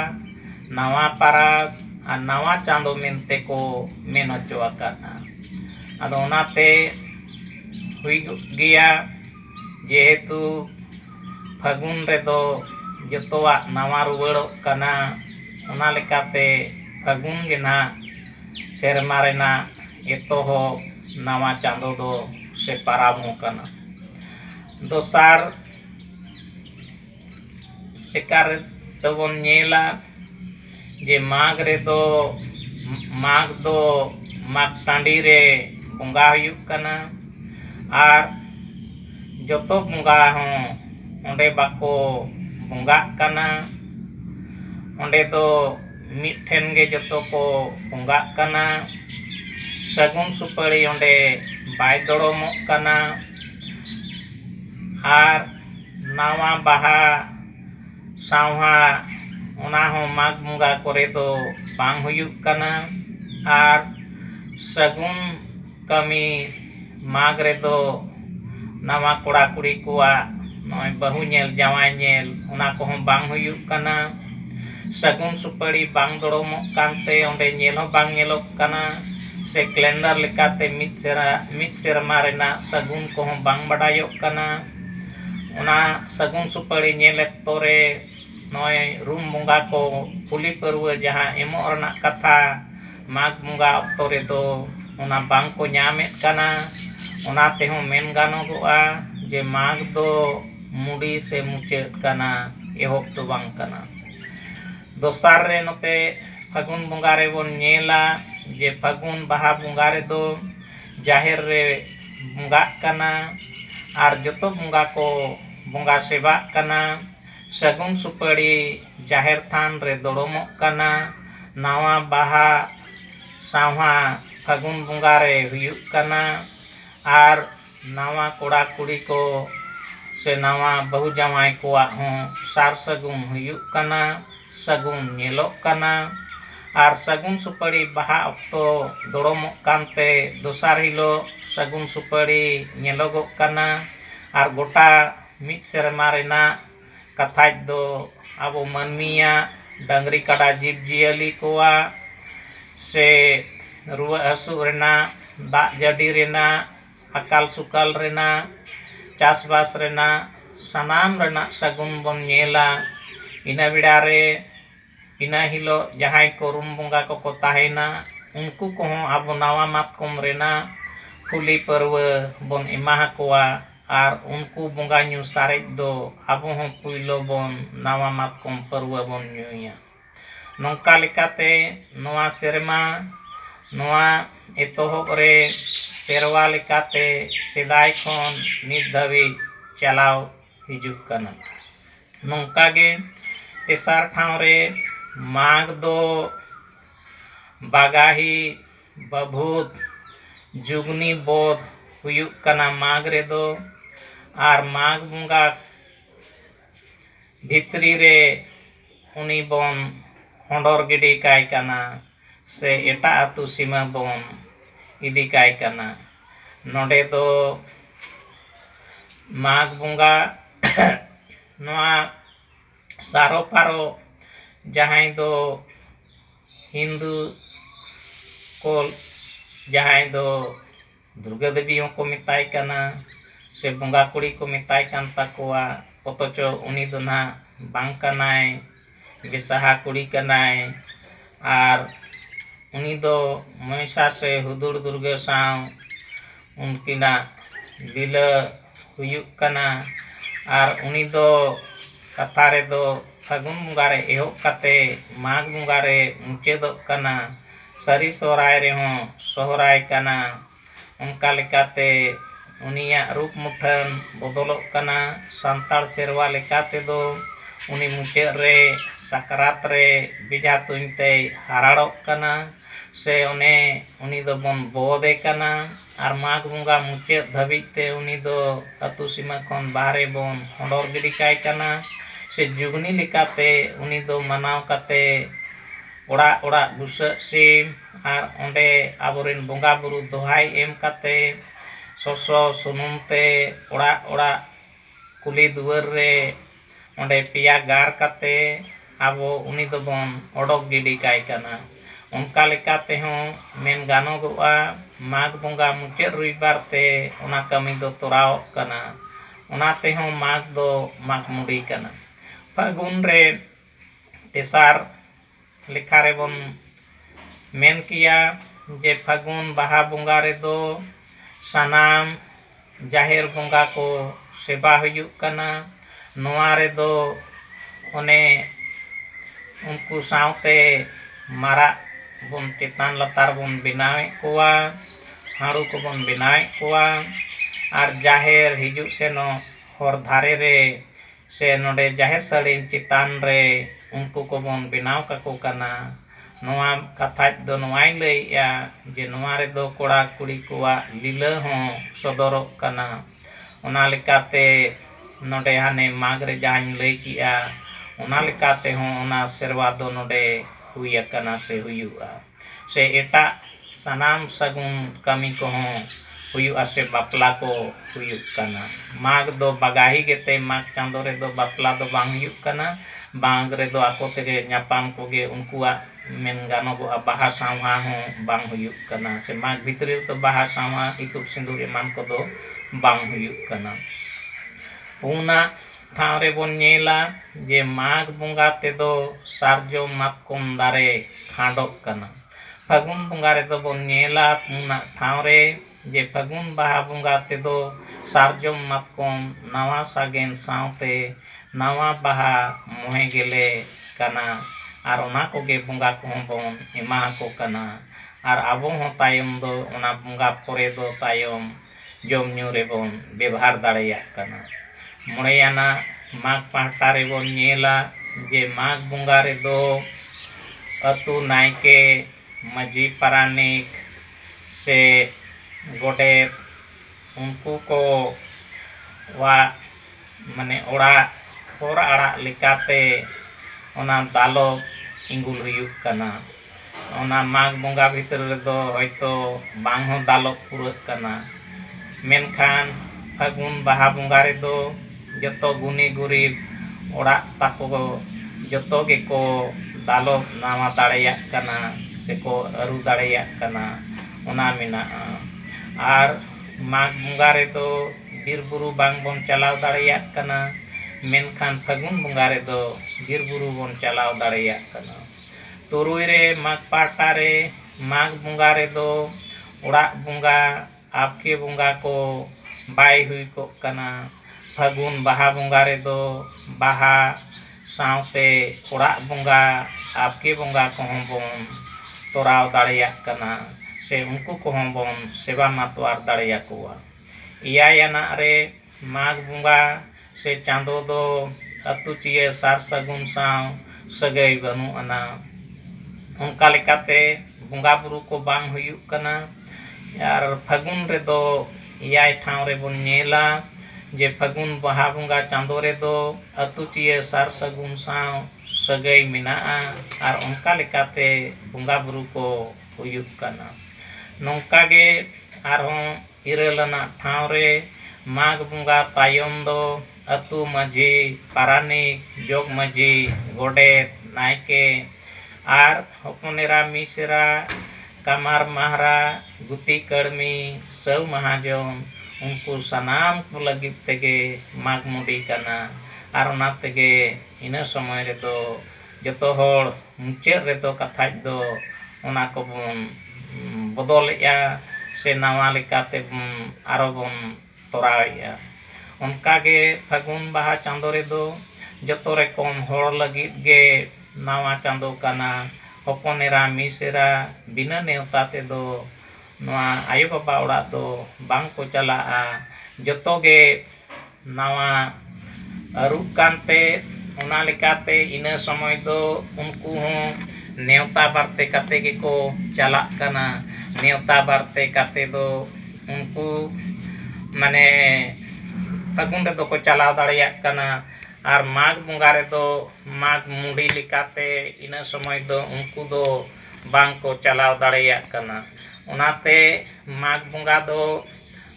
ᱱᱟᱣᱟ ᱯᱟᱨᱟᱵᱽ ᱟᱨ ᱱᱟᱣᱟ ᱪᱟᱸᱫᱚ ᱢᱮᱱᱛᱮ ᱠᱚ ᱢᱮᱱ ᱚᱪᱚ ᱟᱠᱟᱫᱼᱟ᱾ ᱟᱫᱚ ᱚᱱᱟᱛᱮ ᱦᱩᱭᱩᱜ ᱜᱮᱭᱟ᱾ ᱡᱮᱦᱮᱛᱩ ᱯᱷᱟᱹᱜᱩᱱ ᱨᱮᱫᱚ ᱡᱚᱛᱚᱣᱟᱜ ᱱᱟᱣᱟ ᱨᱩᱣᱟᱹᱲᱚᱜ ᱠᱟᱱᱟ ᱚᱱᱟ ᱞᱮᱠᱟᱛᱮ ᱯᱷᱟᱹᱜᱩᱱ ᱜᱮ ᱱᱟᱜ ᱥᱮᱨᱢᱟ ᱨᱮᱱᱟᱜ ᱮᱛᱚᱦᱚᱵ ᱱᱟᱣᱟ ᱪᱟᱸᱫᱚ ᱫᱚ ᱥᱮ ᱯᱟᱨᱟᱵᱽ ᱦᱚᱸ ᱠᱟᱱᱟ ᱫᱚᱥᱟᱨ ᱞᱮᱠᱟ ᱨᱮᱫᱚ ᱵᱚᱱ ᱧᱮᱞᱟ ᱡᱮ ᱢᱟᱜᱽ ᱨᱮᱫᱚ ᱢᱟᱜᱽ ᱫᱚ ᱢᱟᱜᱽ ᱴᱟᱺᱰᱤ ᱨᱮ ᱵᱚᱸᱜᱟ ᱦᱩᱭᱩᱜ ᱠᱟᱱᱟ ᱟᱨ ᱡᱚᱛᱚ ᱵᱚᱸᱜᱟ ᱦᱚᱸ ᱚᱸᱰᱮ ᱵᱟᱠᱚ ᱵᱚᱸᱜᱟᱜ ᱠᱟᱱᱟ ᱚᱸᱰᱮ ᱫᱚ ᱢᱤᱫ ᱴᱷᱮᱱ ᱜᱮ ᱡᱚᱛᱚ ᱠᱚ ᱵᱚᱸᱜᱟᱜ ᱠᱟᱱᱟ ᱥᱟᱹᱜᱩᱱ ᱥᱩᱯᱟᱹᱲᱤ ᱚᱸᱰᱮ ᱵᱟᱭ ᱫᱚᱲᱚᱢᱚᱜ ᱠᱟᱱᱟ ᱟᱨ ᱱᱟᱣᱟ ᱵᱟᱦᱟ ᱥᱟᱶᱦᱟ ᱚᱱᱟ ᱦᱚᱸ ᱢᱟᱜᱽ ᱵᱚᱸᱜᱟ ᱠᱚᱨᱮ ᱫᱚ ᱵᱟᱝ ᱦᱩᱭᱩᱜ ᱠᱟᱱᱟ ᱟᱨ ᱥᱟᱹᱜᱩᱱ ᱠᱟᱹᱢᱤ ᱢᱟᱜᱽ ᱨᱮᱫᱚ ᱱᱟᱣᱟ ᱠᱚᱲᱟᱼᱠᱩᱲᱤ ᱠᱚᱣᱟᱜ ᱱᱚᱜᱼᱚᱭ ᱵᱟᱹᱦᱩ ᱧᱮᱞ ᱡᱟᱶᱟᱭ ᱧᱮᱞ ᱚᱱᱟ ᱠᱚᱦᱚᱸ ᱵᱟᱝ ᱦᱩᱭᱩᱜ ᱠᱟᱱᱟ ᱥᱟᱹᱜᱩᱱ ᱥᱩᱯᱟᱹᱲᱤ ᱵᱟᱝ ᱫᱚᱲᱚᱢᱚᱜ ᱠᱟᱱᱛᱮ ᱚᱸᱰᱮ ᱧᱮᱞ ᱦᱚᱸ ᱵᱟᱝ ᱧᱮᱞᱚᱜ ᱠᱟᱱᱟ ᱥᱮ ᱠᱮᱞᱮᱱᱰᱟᱨ ᱞᱮᱠᱟᱛᱮ ᱢᱤᱫ ᱥᱮᱨᱢᱟ ᱨᱮᱱᱟᱜ ᱥᱟᱹᱜᱩᱱ ᱠᱚᱦᱚᱸ ᱵᱟᱝ ᱵᱟᱰᱟᱭᱚᱜ ᱠᱟᱱᱟ ᱚᱱᱟ ᱥᱟᱹᱜᱩᱱ ᱥᱩᱯᱟᱹᱲᱤ ᱧᱮᱞ ᱚᱠᱛᱚ ᱨᱮ ᱱᱚᱜᱼᱚᱭ ᱨᱩᱢ ᱵᱚᱸᱜᱟ ᱠᱚ ᱠᱩᱞᱤ ᱯᱟᱹᱨᱣᱟᱹ ᱡᱟᱦᱟᱸ ᱮᱢᱚᱜ ᱨᱮᱱᱟᱜ ᱠᱟᱛᱷᱟ ᱢᱟᱜᱽ ᱵᱚᱸᱜᱟ ᱚᱠᱛᱚ ᱨᱮᱫᱚ ᱚᱱᱟ ᱵᱟᱝ ᱠᱚ ᱧᱟᱢᱮᱫ ᱠᱟᱱᱟ ᱚᱱᱟ ᱛᱮᱦᱚᱸ ᱢᱮᱱ ᱜᱟᱱᱚᱜᱚᱜᱼᱟ ᱡᱮ ᱢᱟᱜᱽ ᱫᱚ ᱢᱩᱰᱤ ᱥᱮ ᱢᱩᱪᱟᱹᱫ ᱠᱟᱱᱟ ᱮᱦᱚᱵ ᱫᱚ ᱵᱟᱝ ᱠᱟᱱᱟ ᱫᱚᱥᱟᱨ ᱨᱮ ᱱᱚᱛᱮ ᱯᱷᱟᱹᱜᱩᱱ ᱵᱚᱸᱜᱟ ᱨᱮᱵᱚᱱ ᱧᱮᱞᱟ ᱡᱮ ᱯᱷᱟᱹᱜᱩᱱ ᱵᱟᱦᱟ ᱵᱚᱸᱜᱟ ᱨᱮᱫᱚ ᱡᱟᱦᱮᱨ ᱨᱮ ᱵᱚᱸᱜᱟᱜ ᱠᱟᱱᱟ ᱟᱨ ᱡᱚᱛᱚ ᱵᱚᱸᱜᱟ ᱠᱚ ᱵᱚᱸᱜᱟ ᱥᱮᱵᱟᱜ ᱠᱟᱱᱟ ᱥᱟᱹᱜᱩᱱ ᱥᱩᱯᱟᱹᱲᱤ ᱡᱟᱦᱮᱨ ᱛᱷᱟᱱ ᱨᱮ ᱫᱚᱲᱚᱢᱚᱜ ᱠᱟᱱᱟ ᱱᱟᱣᱟ ᱵᱟᱦᱟ ᱥᱟᱶᱦᱟ ᱯᱷᱟᱹᱜᱩᱱ ᱵᱚᱸᱜᱟ ᱨᱮ ᱦᱩᱭᱩᱜ ᱠᱟᱱᱟ ᱟᱨ ᱱᱟᱣᱟ ᱠᱚᱲᱟ ᱠᱩᱲᱤ ᱠᱚ ᱥᱮ ᱱᱟᱣᱟ ᱵᱟᱹᱦᱩ ᱡᱟᱶᱟᱭ ᱠᱚᱣᱟᱜ ᱦᱚᱸ ᱥᱟᱨ ᱥᱟᱹᱜᱩᱱ ᱦᱩᱭᱩᱜ ᱠᱟᱱᱟ ᱥᱟᱹᱜᱩᱱ ᱧᱮᱞᱚᱜ ᱠᱟᱱᱟ ᱟᱨ ᱥᱟᱹᱜᱩᱱ ᱥᱩᱯᱟᱹᱲᱤ ᱵᱟᱦᱟ ᱚᱠᱛᱚ ᱫᱚᱲᱚᱢᱚᱜ ᱠᱟᱱᱛᱮ ᱫᱚᱥᱟᱨ ᱦᱤᱞᱳᱜ ᱥᱟᱹᱜᱩᱱ ᱥᱩᱯᱟᱹᱲᱤ ᱧᱮᱞᱚᱜᱚᱜ ᱠᱟᱱᱟ ᱟᱨ ᱜᱚᱴᱟ ᱢᱤᱫ ᱥᱮᱨᱢᱟ ᱨᱮᱱᱟᱜ ᱠᱟᱛᱷᱟᱡ ᱫᱚ ᱟᱵᱚ ᱢᱟᱹᱱᱢᱤᱭᱟᱜ ᱰᱟᱹᱝᱨᱤ ᱠᱟᱰᱟ ᱡᱤᱵᱽ ᱡᱤᱭᱟᱹᱞᱤ ᱠᱚᱣᱟᱜ ᱥᱮ ᱨᱩᱣᱟᱹᱜ ᱦᱟᱹᱥᱩᱜ ᱨᱮᱱᱟᱜ ᱫᱟᱜ ᱡᱟᱹᱲᱤ ᱨᱮᱱᱟᱜ ᱟᱠᱟᱞ ᱥᱩᱠᱟᱞ ᱨᱮᱱᱟᱜ ᱪᱟᱥᱵᱟᱥ ᱨᱮᱱᱟᱜ ᱥᱟᱱᱟᱢ ᱨᱮᱱᱟᱜ ᱥᱟᱹᱜᱩᱱ ᱵᱚᱱ ᱧᱮᱞᱟ ᱤᱱᱟᱹ ᱵᱮᱲᱟ ᱨᱮ ᱤᱱᱟᱹ ᱦᱤᱞᱳᱜ ᱡᱟᱦᱟᱸᱭ ᱠᱚ ᱨᱩᱢ ᱵᱚᱸᱜᱟ ᱠᱚᱠᱚ ᱛᱟᱦᱮᱱᱟ ᱩᱱᱠᱩ ᱠᱚᱦᱚᱸ ᱟᱵᱚ ᱱᱟᱣᱟ ᱢᱟᱛᱠᱚᱢ ᱨᱮᱱᱟᱜ ᱯᱷᱩᱞᱤ ᱯᱟᱹᱨᱣᱟᱹ ᱵᱚᱱ ᱮᱢᱟ ᱟᱠᱚᱣᱟ ᱟᱨ ᱩᱱᱠᱩ ᱵᱚᱸᱜᱟ ᱧᱩ ᱥᱟᱨᱮᱡ ᱫᱚ ᱟᱵᱚ ᱦᱚᱸ ᱯᱩᱭᱞᱳ ᱵᱚᱱ ᱱᱟᱣᱟ ᱢᱟᱛᱠᱚᱢ ᱯᱟᱹᱨᱣᱟᱹ ᱵᱚᱱ ᱧᱩᱭᱟ᱾ ᱱᱚᱝᱠᱟ ᱞᱮᱠᱟᱛᱮ ᱱᱚᱣᱟ ᱥᱮᱨᱢᱟ ᱱᱚᱣᱟ ᱮᱛᱚᱦᱚᱵ ᱨᱮ ᱥᱮᱨᱣᱟ ᱞᱮᱠᱟᱛᱮ ᱥᱮᱫᱟᱭ ᱠᱷᱚᱱ ᱱᱤᱛ ᱫᱷᱟᱹᱵᱤᱡ ᱪᱟᱞᱟᱣ ᱦᱤᱡᱩᱜ ᱠᱟᱱᱟ᱾ ᱱᱚᱝᱠᱟ ᱜᱮ ᱛᱮᱥᱟᱨ ᱴᱷᱟᱶ ᱨᱮ ᱢᱟᱜᱽ ᱫᱚ ᱵᱟᱜᱟᱦᱤ, ᱵᱟᱵᱷᱩᱫᱽ, ᱡᱩᱜᱽᱱᱤ ᱵᱚᱫᱷ ᱦᱩᱭᱩᱜ ᱠᱟᱱᱟ ᱢᱟᱜᱽ ᱨᱮᱫᱚ ᱟᱨ ᱢᱟᱜᱽ ᱵᱚᱸᱜᱟ ᱵᱷᱤᱛᱨᱤ ᱨᱮ ᱩᱱᱤ ᱵᱚᱱ ᱦᱚᱸᱰᱚᱨ ᱜᱤᱰᱤ ᱠᱟᱭ ᱠᱟᱱᱟ᱾ ᱥᱮ ᱮᱴᱟᱜ ᱟᱹᱛᱩ ᱥᱤᱢᱟᱹ ᱵᱚᱱ ᱤᱫᱤ ᱠᱟᱭ ᱠᱟᱱᱟ᱾ ᱱᱚᱰᱮ ᱫᱚ ᱢᱟᱜᱽ ᱵᱚᱸᱜᱟ ᱱᱚᱣᱟ ᱥᱟᱨᱚ ᱯᱟᱨᱚ ᱡᱟᱦᱟᱸᱭ ᱫᱚ ᱦᱤᱱᱫᱩ ᱠᱚ ᱡᱟᱦᱟᱸᱭ ᱫᱚ ᱫᱩᱨᱜᱟᱹ ᱫᱮᱵᱤ ᱦᱚᱸᱠᱚ ᱢᱮᱛᱟᱭ ᱠᱟᱱᱟ ᱥᱮ ᱵᱚᱸᱜᱟ ᱠᱩᱲᱤ ᱠᱚ ᱢᱮᱛᱟᱭ ᱠᱟᱱ ᱛᱟᱠᱚᱣᱟ ᱚᱛᱷᱚᱪᱚ ᱩᱱᱤ ᱫᱚ ᱱᱟᱦᱟᱜ ᱵᱟᱝ ᱠᱟᱱᱟᱭ ᱵᱮᱥᱟᱦᱟ ᱠᱩᱲᱤ ᱠᱟᱱᱟᱭ ᱟᱨ ᱩᱱᱤ ᱫᱚ ᱢᱚᱦᱤᱥᱟ ᱥᱮ ᱦᱩᱫᱩᱲ ᱫᱩᱨᱜᱟᱹ ᱥᱟᱶ ᱩᱱᱠᱤᱱᱟᱜ ᱞᱤᱞᱟᱹ ᱦᱩᱭᱩᱜ ᱠᱟᱱᱟ ᱟᱨ ᱩᱱᱤ ᱫᱚ ᱠᱟᱛᱷᱟ ᱨᱮᱫᱚ ᱯᱷᱟᱹᱜᱩᱱ ᱵᱚᱸᱜᱟ ᱨᱮ ᱮᱦᱚᱵ ᱠᱟᱛᱮᱫ ᱢᱟᱜᱽ ᱵᱚᱸᱜᱟ ᱨᱮ ᱢᱩᱪᱟᱹᱫᱚᱜ ᱠᱟᱱᱟ ᱥᱟᱹᱨᱤ ᱥᱚᱦᱨᱟᱭ ᱨᱮᱦᱚᱸ ᱥᱚᱦᱨᱟᱭ ᱠᱟᱱᱟ᱾ ᱚᱱᱠᱟ ᱞᱮᱠᱟᱛᱮ ᱩᱱᱤᱭᱟᱜ ᱨᱩᱯ ᱢᱩᱴᱷᱟᱹᱱ ᱵᱚᱫᱚᱞᱚᱜ ᱠᱟᱱᱟ᱾ ᱥᱟᱱᱛᱟᱲ ᱥᱮᱨᱣᱟ ᱞᱮᱠᱟ ᱛᱮᱫᱚ ᱩᱱᱤ ᱢᱩᱪᱟᱹᱫ ᱨᱮ ᱥᱟᱠᱨᱟᱛ ᱨᱮ ᱵᱮᱡᱷᱟ ᱛᱩᱧ ᱛᱮᱭ ᱦᱟᱨᱟᱲᱚᱜ ᱠᱟᱱᱟ ᱥᱮ ᱚᱱᱮ ᱩᱱᱤ ᱫᱚᱵᱚᱱ ᱵᱚᱫᱷ ᱮ ᱠᱟᱱᱟ ᱟᱨ ᱢᱟᱜᱽ ᱵᱚᱸᱜᱟ ᱢᱩᱪᱟᱹᱫ ᱫᱷᱟᱹᱵᱤᱡ ᱛᱮ ᱩᱱᱤ ᱫᱚ ᱟᱹᱛᱩ ᱥᱤᱢᱟᱹ ᱠᱷᱚᱱ ᱵᱟᱦᱨᱮ ᱵᱚᱱ ᱦᱚᱸᱰᱚᱨ ᱜᱤᱰᱤ ᱠᱟᱭ ᱠᱟᱱᱟ ᱥᱮ ᱡᱩᱜᱽᱱᱤ ᱞᱮᱠᱟᱛᱮ ᱩᱱᱤ ᱫᱚ ᱢᱟᱱᱟᱣ ᱠᱟᱛᱮ ᱚᱲᱟᱜ ᱚᱲᱟᱜ ᱵᱩᱥᱟᱹᱜ ᱥᱤᱢ ᱟᱨ ᱚᱸᱰᱮ ᱟᱵᱚ ᱨᱮᱱ ᱵᱚᱸᱜᱟ ᱵᱩᱨᱩ ᱫᱚᱦᱟᱭ ᱮᱢ ᱠᱟᱛᱮᱫ ᱥᱚᱥᱚ ᱥᱩᱱᱩᱢ ᱛᱮ ᱚᱲᱟᱜ ᱚᱲᱟᱜ ᱠᱩᱞᱦᱤ ᱫᱩᱣᱟᱹᱨ ᱨᱮ ᱚᱸᱰᱮ ᱯᱮᱭᱟ ᱜᱟᱨ ᱠᱟᱛᱮᱫ ᱟᱵᱚ ᱩᱱᱤ ᱫᱚᱵᱚᱱ ᱚᱰᱚᱠ ᱜᱤᱰᱤ ᱠᱟᱭ ᱠᱟᱱᱟ ᱚᱱᱠᱟ ᱞᱮᱠᱟ ᱛᱮᱦᱚᱸ ᱢᱮᱱ ᱜᱟᱱᱚᱜᱚᱜᱼᱟ ᱢᱟᱜᱽ ᱵᱚᱸᱜᱟ ᱢᱩᱪᱟᱹᱫ ᱨᱚᱵᱤᱵᱟᱨ ᱛᱮ ᱚᱱᱟ ᱠᱟᱹᱢᱤ ᱫᱚ ᱛᱚᱨᱟᱣᱚᱜ ᱠᱟᱱᱟ ᱚᱱᱟ ᱛᱮᱦᱚᱸ ᱢᱟᱜᱽ ᱫᱚ ᱢᱟᱜᱽ ᱢᱩᱰᱤ ᱠᱟᱱᱟ ᱯᱷᱟᱹᱜᱩᱱ ᱨᱮ ᱛᱮᱥᱟᱨ ᱞᱮᱠᱷᱟ ᱨᱮᱵᱚᱱ ᱢᱮᱱ ᱠᱮᱭᱟ ᱡᱮ ᱯᱷᱟᱹᱜᱩᱱ ᱵᱟᱦᱟ ᱵᱚᱸᱜᱟ ᱨᱮᱫᱚ ᱥᱟᱱᱟᱢ ᱡᱟᱦᱮᱨ ᱵᱚᱸᱜᱟ ᱠᱚ ᱥᱮᱵᱟ ᱦᱩᱭᱩᱜ ᱠᱟᱱᱟ ᱱᱚᱣᱟ ᱨᱮᱫᱚ ᱚᱱᱮ ᱩᱱᱠᱩ ᱥᱟᱶᱛᱮ ᱢᱟᱨᱟᱜ ᱵᱚᱱ ᱪᱮᱛᱟᱱ ᱞᱟᱛᱟᱨ ᱵᱚᱱ ᱵᱮᱱᱟᱣᱮᱫ ᱠᱚᱣᱟ ᱦᱟᱹᱬᱩ ᱠᱚᱵᱚᱱ ᱵᱮᱱᱟᱣᱮᱫ ᱠᱚᱣᱟ ᱟᱨ ᱡᱟᱦᱮᱨ ᱦᱤᱡᱩᱜ ᱥᱮᱱᱚᱜ ᱦᱚᱨ ᱫᱷᱟᱨᱮ ᱨᱮ ᱥᱮ ᱱᱚᱰᱮ ᱡᱟᱦᱮᱨ ᱥᱟᱹᱲᱤᱢ ᱪᱮᱛᱟᱱ ᱨᱮ ᱩᱱᱠᱩ ᱠᱚᱵᱚᱱ ᱵᱮᱱᱟᱣ ᱠᱟᱠᱚ ᱠᱟᱱᱟ᱾ ᱱᱚᱣᱟ ᱠᱟᱛᱷᱟᱡ ᱫᱚ ᱱᱚᱣᱟᱭ ᱞᱟᱹᱭᱮᱜᱼᱟ ᱡᱮ ᱱᱚᱣᱟ ᱨᱮᱫᱚ ᱠᱚᱲᱟ ᱠᱩᱲᱤ ᱠᱚᱣᱟᱜ ᱞᱤᱞᱟᱹ ᱦᱚᱸ ᱥᱚᱫᱚᱨᱚᱜ ᱠᱟᱱᱟ᱾ ᱚᱱᱟ ᱞᱮᱠᱟᱛᱮ ᱱᱚᱰᱮ ᱦᱟᱱᱮ ᱢᱟᱜᱽ ᱨᱮ ᱡᱟᱦᱟᱧ ᱞᱟᱹᱭ ᱠᱮᱜᱼᱟ ᱚᱱᱟ ᱞᱮᱠᱟᱛᱮ ᱦᱚᱸ ᱚᱱᱟ ᱥᱮᱨᱣᱟ ᱫᱚ ᱱᱚᱰᱮ ᱦᱩᱭ ᱟᱠᱟᱱᱟ ᱥᱮ ᱦᱩᱭᱩᱜᱼᱟ᱾ ᱥᱮ ᱮᱴᱟᱜ ᱥᱟᱱᱟᱢ ᱥᱟᱹᱜᱩᱱ ᱠᱟᱹᱢᱤ ᱠᱚᱦᱚᱸ ᱦᱩᱭᱩᱜᱼᱟ ᱥᱮ ᱵᱟᱯᱞᱟ ᱠᱚ ᱦᱩᱭᱩᱜ ᱠᱟᱱᱟ᱾ ᱢᱟᱜᱽ ᱫᱚ ᱵᱟᱜᱟᱦᱤ ᱜᱮᱛᱮ ᱢᱟᱜᱽ ᱪᱟᱸᱫᱚ ᱨᱮᱫᱚ ᱵᱟᱯᱞᱟ ᱫᱚ ᱵᱟᱝ ᱦᱩᱭᱩᱜ ᱠᱟᱱᱟ᱾ ᱵᱟᱝᱜᱽ ᱨᱮᱫᱚ ᱟᱠᱚ ᱛᱮᱜᱮ ᱧᱟᱯᱟᱢ ᱠᱚᱜᱮ ᱩᱱᱠᱩᱣᱟᱜ ᱢᱮᱱ ᱜᱟᱱᱚᱜᱚᱜᱼᱟ᱾ ᱵᱟᱦᱟ ᱥᱟᱶᱦᱟ ᱦᱚᱸ ᱵᱟᱝ ᱦᱩᱭᱩᱜ ᱠᱟᱱᱟ ᱥᱮ ᱢᱟᱜᱽ ᱵᱷᱤᱛᱨᱤ ᱨᱮᱫᱚ ᱵᱟᱦᱟ ᱥᱟᱶᱦᱟ, ᱤᱛᱩᱫ ᱥᱤᱸᱫᱩᱨ ᱮᱢᱟᱱ ᱠᱚᱫᱚ ᱵᱟᱝ ᱦᱩᱭᱩᱜ ᱠᱟᱱᱟ᱾ ᱯᱩᱱᱟᱜ ᱴᱷᱟᱶ ᱨᱮ ᱵᱚᱱ ᱧᱮᱞᱟ ᱡᱮ ᱢᱟᱜᱽ ᱵᱚᱸᱜᱟ ᱛᱮᱫᱚ ᱥᱟᱨᱡᱚᱢ ᱢᱟᱛᱠᱚᱢ ᱫᱟᱨᱮ ᱠᱷᱟᱸᱰᱚᱜ ᱠᱟᱱᱟ᱾ ᱯᱷᱟᱹᱜᱩᱱ ᱵᱚᱸᱜᱟ ᱨᱮᱫᱚ ᱵᱚᱱ ᱧᱮᱞᱟ ᱯᱩᱱᱟᱜ ᱴᱷᱟᱶ ᱨᱮ ᱡᱮ ᱯᱷᱟᱹᱜᱩᱱ ᱵᱟᱦᱟ ᱵᱚᱸᱜᱟ ᱛᱮᱫᱚ ᱥᱟᱨᱡᱚᱢ ᱢᱟᱛᱠᱚᱢ ᱱᱟᱣᱟ ᱥᱟᱜᱮᱱ ᱥᱟᱶᱛᱮ ᱱᱟᱣᱟ ᱵᱟᱦᱟ ᱢᱚᱦᱮ ᱜᱮᱞᱮ ᱠᱟᱱᱟ ᱟᱨ ᱚᱱᱟ ᱠᱚᱜᱮ ᱵᱚᱸᱜᱟ ᱠᱚᱦᱚᱸ ᱵᱚᱱ ᱮᱢᱟ ᱟᱠᱚ ᱠᱟᱱᱟ ᱟᱨ ᱟᱵᱚ ᱦᱚᱸ ᱛᱟᱭᱚᱢ ᱫᱚ ᱚᱱᱟ ᱵᱚᱸᱜᱟ ᱯᱚᱨᱮ ᱫᱚ ᱛᱟᱭᱚᱢ ᱡᱚᱢ ᱧᱩ ᱨᱮ ᱵᱚᱱ ᱵᱮᱵᱷᱟᱨ ᱫᱟᱲᱮᱭᱟᱜ ᱠᱟᱱᱟ᱾ ᱢᱚᱬᱮ ᱟᱱᱟᱜ, ᱢᱟᱜᱽ ᱯᱟᱦᱴᱟ ᱨᱮ ᱵᱚᱱ ᱧᱮᱞᱟ ᱡᱮ ᱢᱟᱜᱽ ᱵᱚᱸᱜᱟ ᱨᱮ ᱫᱚ ᱟᱹᱛᱩ ᱱᱟᱭᱠᱮ, ᱢᱟᱹᱡᱷᱤ ᱯᱟᱨᱟᱱᱤᱠ ᱥᱮ ᱜᱚᱰᱮᱛ ᱩᱱᱠᱩ ᱠᱚᱣᱟᱜ ᱢᱟᱱᱮ ᱚᱲᱟᱜ ᱦᱚᱨ ᱟᱲᱟᱜ ᱞᱮᱠᱟᱛᱮ ᱚᱱᱟ ᱫᱟᱞᱚᱵ ᱤᱸᱜᱩᱞ ᱦᱩᱭᱩᱜ ᱠᱟᱱᱟ ᱚᱱᱟ ᱢᱟᱜᱽ ᱵᱚᱸᱜᱟ ᱵᱷᱤᱛᱨᱤ ᱨᱮᱫᱚ ᱦᱚᱭᱛᱳ ᱵᱟᱝ ᱦᱚᱸ ᱫᱟᱞᱚᱵ ᱯᱩᱨᱟᱹᱜ ᱠᱟᱱᱟ ᱢᱮᱱᱠᱷᱟᱱ ᱯᱷᱟᱹᱜᱩᱱ ᱵᱟᱦᱟ ᱵᱚᱸᱜᱟ ᱨᱮᱫᱚ ᱡᱚᱛᱚ ᱜᱩᱱᱤ ᱜᱩᱨᱤᱵᱽ ᱚᱲᱟᱜ ᱛᱟᱠᱚ ᱡᱚᱛᱚ ᱜᱮᱠᱚ ᱫᱟᱞᱚᱵ ᱱᱟᱣᱟ ᱫᱟᱲᱮᱭᱟᱜ ᱠᱟᱱᱟ ᱥᱮᱠᱚ ᱟᱹᱨᱩ ᱫᱟᱲᱮᱭᱟᱜ ᱠᱟᱱᱟ ᱚᱱᱟ ᱢᱮᱱᱟᱜᱼᱟ ᱟᱨ ᱢᱟᱜᱽ ᱵᱚᱸᱜᱟ ᱨᱮᱫᱚ ᱵᱤᱨ ᱵᱩᱨᱩ ᱵᱟᱝ ᱵᱚᱱ ᱪᱟᱞᱟᱣ ᱫᱟᱲᱮᱭᱟᱜ ᱠᱟᱱᱟ ᱢᱮᱱᱠᱷᱟᱱ ᱯᱷᱟᱹᱜᱩᱱ ᱵᱚᱸᱜᱟ ᱨᱮᱫᱚ ᱵᱤᱨ ᱵᱩᱨᱩ ᱵᱚᱱ ᱪᱟᱞᱟᱣ ᱫᱟᱲᱮᱭᱟᱜ ᱠᱟᱱᱟ ᱛᱩᱨᱩᱭ ᱨᱮ ᱢᱟᱜᱽ ᱯᱟᱦᱴᱟ ᱨᱮ ᱢᱟᱜᱽ ᱵᱚᱸᱜᱟ ᱨᱮᱫᱚ ᱚᱲᱟᱜ ᱵᱚᱸᱜᱟ ᱟᱯᱠᱮ ᱵᱚᱸᱜᱟ ᱠᱚ ᱵᱟᱭ ᱦᱩᱭ ᱠᱚᱜ ᱠᱟᱱᱟ ᱯᱷᱟᱹᱜᱩᱱ ᱵᱟᱦᱟ ᱵᱚᱸᱜᱟ ᱨᱮᱫᱚ ᱵᱟᱦᱟ ᱥᱟᱶᱛᱮ ᱚᱲᱟᱜ ᱵᱚᱸᱜᱟ ᱟᱯᱠᱮ ᱵᱚᱸᱜᱟ ᱠᱚᱦᱚᱸ ᱵᱚᱱ ᱛᱚᱨᱟᱣ ᱫᱟᱲᱮᱭᱟᱜ ᱠᱟᱱᱟ ᱥᱮ ᱩᱱᱠᱩ ᱠᱚᱦᱚᱸ ᱵᱚᱱ ᱥᱮᱵᱟ ᱢᱟᱛᱣᱟᱨ ᱫᱟᱲᱮᱭᱟᱠᱚᱣᱟ ᱮᱭᱟᱭ ᱟᱱᱟᱜ ᱨᱮ ᱢᱟᱜᱽ ᱵᱚᱸᱜᱟ ᱥᱮ ᱪᱟᱸᱫᱚ ᱫᱚ ᱟᱹᱛᱩ ᱪᱤᱭᱟᱹ ᱥᱟᱨ ᱥᱟᱹᱜᱩᱱ ᱥᱟᱶ ᱥᱟᱹᱜᱟᱹᱭ ᱵᱟᱹᱱᱩᱜ ᱟᱱᱟ᱾ ᱚᱱᱠᱟ ᱞᱮᱠᱟᱛᱮ ᱵᱚᱸᱜᱟ ᱵᱩᱨᱩ ᱠᱚ ᱵᱟᱝ ᱦᱩᱭᱩᱜ ᱠᱟᱱᱟ᱾ ᱟᱨ ᱯᱷᱟᱹᱜᱩᱱ ᱨᱮᱫᱚ ᱮᱭᱟᱭ ᱴᱷᱟᱶ ᱨᱮ ᱵᱚᱱ ᱧᱮᱞᱟ ᱡᱮ ᱯᱷᱟᱹᱜᱩᱱ ᱵᱟᱦᱟ ᱵᱚᱸᱜᱟ ᱪᱟᱸᱫᱚ ᱨᱮᱫᱚ ᱟᱹᱛᱩ ᱪᱤᱭᱟᱹ ᱥᱟᱨ ᱥᱟᱹᱜᱩᱱ ᱥᱟᱶ ᱥᱟᱹᱜᱟᱹᱭ ᱢᱮᱱᱟᱜᱼᱟ ᱟᱨ ᱚᱱᱠᱟ ᱞᱮᱠᱟᱛᱮ ᱵᱚᱸᱜᱟ ᱵᱩᱨᱩ ᱠᱚ ᱦᱩᱭᱩᱜ ᱠᱟᱱᱟ ᱱᱚᱝᱠᱟ ᱜᱮ ᱟᱨᱦᱚᱸ ᱤᱨᱟᱹᱞ ᱟᱱᱟᱜ ᱴᱷᱟᱶ ᱨᱮ ᱢᱟᱜᱽ ᱵᱚᱸᱜᱟ ᱛᱟᱭᱚᱢ ᱫᱚ ᱟᱹᱛᱩ ᱢᱟᱺᱡᱷᱤ ᱯᱟᱨᱟᱱᱤᱠ ᱡᱚᱜᱽ ᱢᱟᱺᱡᱷᱤ ᱜᱚᱰᱮᱛ ᱱᱟᱭᱠᱮ ᱟᱨ ᱦᱚᱯᱚᱱ ᱮᱨᱟ ᱢᱤᱥᱨᱟ ᱠᱟᱢᱟᱨ ᱢᱟᱦᱟᱨᱟ ᱜᱩᱛᱤ ᱠᱟᱹᱲᱢᱤ ᱥᱟᱹᱣ ᱢᱟᱦᱟᱡᱚᱱ ᱩᱱᱠᱩ ᱥᱟᱱᱟᱢ ᱠᱚ ᱞᱟᱹᱜᱤᱫ ᱛᱮᱜᱮ ᱢᱟᱜᱽ ᱢᱩᱰᱤ ᱠᱟᱱᱟ ᱟᱨ ᱚᱱᱟ ᱛᱮᱜᱮ ᱤᱱᱟᱹ ᱥᱚᱢᱚᱭ ᱨᱮᱫᱚ ᱡᱚᱛᱚ ᱦᱚᱲ ᱢᱩᱪᱟᱹᱫ ᱨᱮᱫᱚ ᱠᱟᱛᱷᱟᱡ ᱫᱚ ᱚᱱᱟ ᱠᱚᱵᱚᱱ ᱵᱚᱫᱚᱞᱮᱫᱼᱟ ᱥᱮ ᱱᱟᱣᱟ ᱞᱮᱠᱟᱛᱮ ᱵᱚᱱ ᱟᱨᱚ ᱵᱚᱱ ᱛᱚᱨᱟᱣᱮᱫᱼᱟ ᱚᱱᱠᱟ ᱜᱮ ᱯᱷᱟᱹᱜᱩᱱ ᱵᱟᱦᱟ ᱪᱟᱸᱫᱚ ᱨᱮᱫᱚ ᱡᱚᱛᱚ ᱨᱚᱠᱚᱢ ᱦᱚᱲ ᱞᱟᱹᱜᱤᱫ ᱜᱮ ᱱᱟᱣᱟ ᱪᱟᱸᱫᱚ ᱠᱟᱱᱟ ᱦᱚᱯᱚᱱ ᱮᱨᱟ ᱢᱤᱥ ᱮᱨᱟ ᱵᱤᱱᱟᱹ ᱱᱮᱣᱛᱟ ᱛᱮᱫᱚ ᱱᱚᱣᱟ ᱟᱭᱳ ᱵᱟᱵᱟ ᱚᱲᱟᱜ ᱫᱚ ᱵᱟᱝ ᱠᱚ ᱪᱟᱞᱟᱜᱼᱟ ᱡᱚᱛᱚ ᱜᱮ ᱱᱟᱣᱟ ᱟᱹᱨᱩᱜ ᱠᱟᱱᱛᱮ ᱚᱱᱟ ᱞᱮᱠᱟᱛᱮ ᱤᱱᱟᱹ ᱥᱚᱢᱚᱭ ᱫᱚ ᱩᱱᱠᱩ ᱦᱚᱸ ᱱᱮᱣᱛᱟ ᱵᱟᱨᱛᱮ ᱠᱟᱛᱮ ᱜᱮᱠᱚ ᱪᱟᱞᱟᱜ ᱠᱟᱱᱟ ᱱᱮᱣᱛᱟ ᱵᱟᱨᱛᱮ ᱠᱟᱛᱮ ᱫᱚ ᱩᱱᱠᱩ ᱢᱟᱱᱮ ᱯᱷᱟᱹᱜᱩᱱ ᱨᱮᱫᱚ ᱠᱚ ᱪᱟᱞᱟᱣ ᱫᱟᱲᱮᱭᱟᱜ ᱠᱟᱱᱟ ᱟᱨ ᱢᱟᱜᱽ ᱵᱚᱸᱜᱟ ᱨᱮᱫᱚ ᱢᱟᱜᱽ ᱢᱩᱰᱤ ᱞᱮᱠᱟᱛᱮ ᱤᱱᱟᱹ ᱥᱚᱢᱚᱭ ᱫᱚ ᱩᱱᱠᱩ ᱫᱚ ᱵᱟᱝ ᱠᱚ ᱪᱟᱞᱟᱣ ᱫᱟᱲᱮᱭᱟᱜ ᱠᱟᱱᱟ ᱚᱱᱟᱛᱮ ᱢᱟᱜᱽ ᱵᱚᱸᱜᱟ ᱫᱚ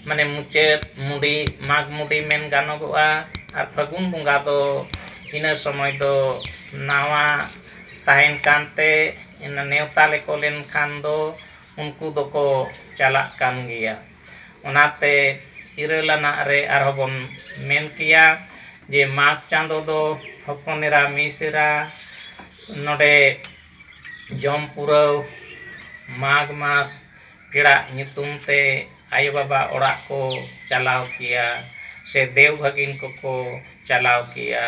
ᱢᱟᱱᱮ ᱢᱩᱪᱟᱹᱫ ᱢᱩᱰᱤ ᱢᱟᱜᱽ ᱢᱩᱰᱤ ᱢᱮᱱ ᱜᱟᱱᱚᱜᱚᱜᱼᱟ ᱟᱨ ᱯᱷᱟᱹᱜᱩᱱ ᱵᱚᱸᱜᱟ ᱫᱚ ᱤᱱᱟᱹ ᱥᱚᱢᱚᱭ ᱫᱚ ᱱᱟᱣᱟ ᱛᱟᱦᱮᱱ ᱠᱟᱱᱛᱮ ᱤᱱᱟᱹ ᱱᱮᱣᱛᱟ ᱞᱮᱠᱚ ᱞᱮᱱᱠᱷᱟᱱ ᱫᱚ ᱩᱱᱠᱩ ᱫᱚᱠᱚ ᱪᱟᱞᱟᱜ ᱠᱟᱱ ᱜᱮᱭᱟ ᱚᱱᱟᱛᱮ ᱤᱨᱟᱹᱞ ᱟᱱᱟᱜ ᱨᱮ ᱟᱨᱦᱚᱸ ᱵᱚᱱ ᱢᱮᱱ ᱠᱮᱭᱟ ᱡᱮ ᱢᱟᱜᱽ ᱪᱟᱸᱫᱚ ᱫᱚ ᱦᱚᱯᱚᱱ ᱮᱨᱟ ᱢᱤᱥᱨᱟ ᱱᱚᱰᱮ ᱡᱚᱢ ᱯᱩᱨᱟᱹᱣ ᱢᱟᱜᱽ ᱢᱟᱥ ᱯᱮᱲᱟᱜ ᱧᱩᱛᱩᱢ ᱛᱮ ᱟᱭᱳ ᱵᱟᱵᱟ ᱚᱲᱟᱜ ᱠᱚ ᱪᱟᱞᱟᱣ ᱠᱮᱭᱟ ᱥᱮ ᱫᱮᱣ ᱵᱷᱟᱹᱜᱤᱱ ᱠᱚᱠᱚ ᱪᱟᱞᱟᱣ ᱠᱮᱭᱟ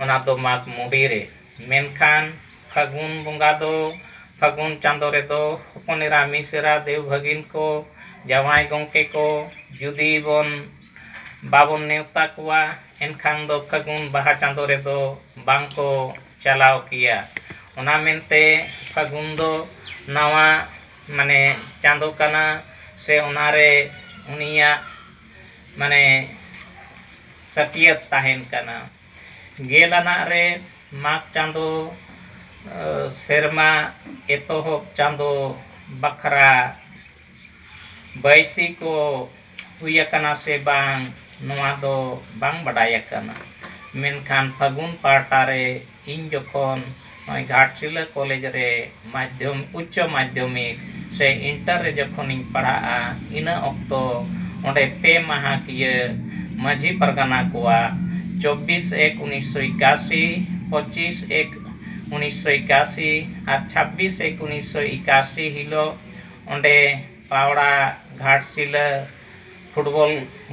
ᱚᱱᱟ ᱫᱚ ᱢᱟᱜᱽ ᱢᱩᱞᱩᱜ ᱨᱮ ᱢᱮᱱᱠᱷᱟᱱ ᱯᱷᱟᱹᱜᱩᱱ ᱵᱚᱸᱜᱟ ᱫᱚ ᱯᱷᱟᱹᱜᱩᱱ ᱪᱟᱸᱫᱚ ᱨᱮᱫᱚ ᱦᱚᱯᱚᱱ ᱮᱨᱟ ᱢᱤᱥᱨᱟ ᱫᱮᱣ ᱵᱷᱟᱹᱜᱤᱱ ᱠᱚ ᱡᱟᱶᱟᱭ ᱜᱚᱢᱠᱮ ᱠᱚ ᱡᱩᱫᱤ ᱵᱚᱱ ᱵᱟᱵᱚᱱ ᱱᱮᱶᱛᱟ ᱠᱚᱣᱟ ᱮᱱᱠᱷᱟᱱ ᱫᱚ ᱯᱷᱟᱹᱜᱩᱱ ᱵᱟᱦᱟ ᱪᱟᱸᱫᱚ ᱨᱮᱫᱚ ᱵᱟᱝ ᱠᱚ ᱪᱟᱞᱟᱣ ᱠᱮᱭᱟ ᱚᱱᱟ ᱢᱮᱱᱛᱮ ᱯᱷᱟᱹᱜᱩᱱ ᱫᱚ ᱱᱟᱣᱟ ᱢᱟᱱᱮ ᱪᱟᱸᱫᱚ ᱠᱟᱱᱟ ᱥᱮ ᱚᱱᱟᱨᱮ ᱩᱱᱤᱭᱟᱜ ᱢᱟᱱᱮ ᱥᱟᱹᱠᱷᱭᱟᱹᱛ ᱛᱟᱦᱮᱱ ᱠᱟᱱᱟ ᱜᱮᱞ ᱟᱱᱟᱜ ᱨᱮ ᱢᱟᱜᱽ ᱪᱟᱸᱫᱚ ᱥᱮᱨᱢᱟ ᱮᱛᱚᱦᱚᱵ ᱪᱟᱸᱫᱚ ᱵᱟᱠᱷᱨᱟ ᱵᱟᱹᱭᱥᱤ ᱠᱚ ᱦᱩᱭ ᱟᱠᱟᱱᱟ ᱥᱮ ᱵᱟᱝ ᱱᱚᱣᱟ ᱫᱚ ᱵᱟᱝ ᱵᱟᱰᱟᱭ ᱟᱠᱟᱱᱟ ᱢᱮᱱᱠᱷᱟᱱ ᱯᱷᱟᱹᱜᱩᱱ ᱯᱟᱦᱴᱟ ᱨᱮ ᱤᱧ ᱡᱚᱠᱷᱚᱱ ᱱᱚᱜᱼᱚᱭ ᱜᱷᱟᱴᱥᱤᱞᱟᱹ ᱠᱚᱞᱮᱡᱽ ᱨᱮ ᱢᱟᱫᱽᱫᱷᱚᱢ ᱩᱪᱪᱚ ᱢᱟᱫᱽᱫᱷᱚᱢᱤᱠ ᱥᱮ ᱤᱱᱴᱟᱨ ᱨᱮ ᱡᱚᱠᱷᱚᱱᱤᱧ ᱯᱟᱲᱦᱟᱜᱼᱟ ᱤᱱᱟᱹ ᱚᱠᱛᱚ ᱚᱸᱰᱮ ᱯᱮ ᱢᱟᱦᱟ ᱠᱤᱭᱟᱹ ᱢᱟᱺᱡᱷᱤ ᱯᱟᱨᱜᱟᱱᱟ ᱠᱚᱣᱟᱜ ᱪᱚᱵᱽᱵᱤᱥ ᱮᱠ ᱩᱱᱤᱥ ᱥᱚ ᱮᱠᱟᱥᱤ ᱯᱚᱸᱪᱤᱥ ᱮᱠ ᱩᱱᱤᱥ ᱥᱚ ᱮᱠᱟᱥᱤ ᱟᱨ ᱪᱷᱟᱵᱽᱵᱤᱥ ᱮᱠ ᱩᱱᱤᱥ ᱥᱚ ᱮᱠᱟᱥᱤ ᱦᱤᱞᱳᱜ ᱚᱸᱰᱮ ᱯᱟᱣᱲᱟ ᱜᱷᱟᱴᱥᱤᱞᱟᱹ ᱯᱷᱩᱴᱵᱚᱞ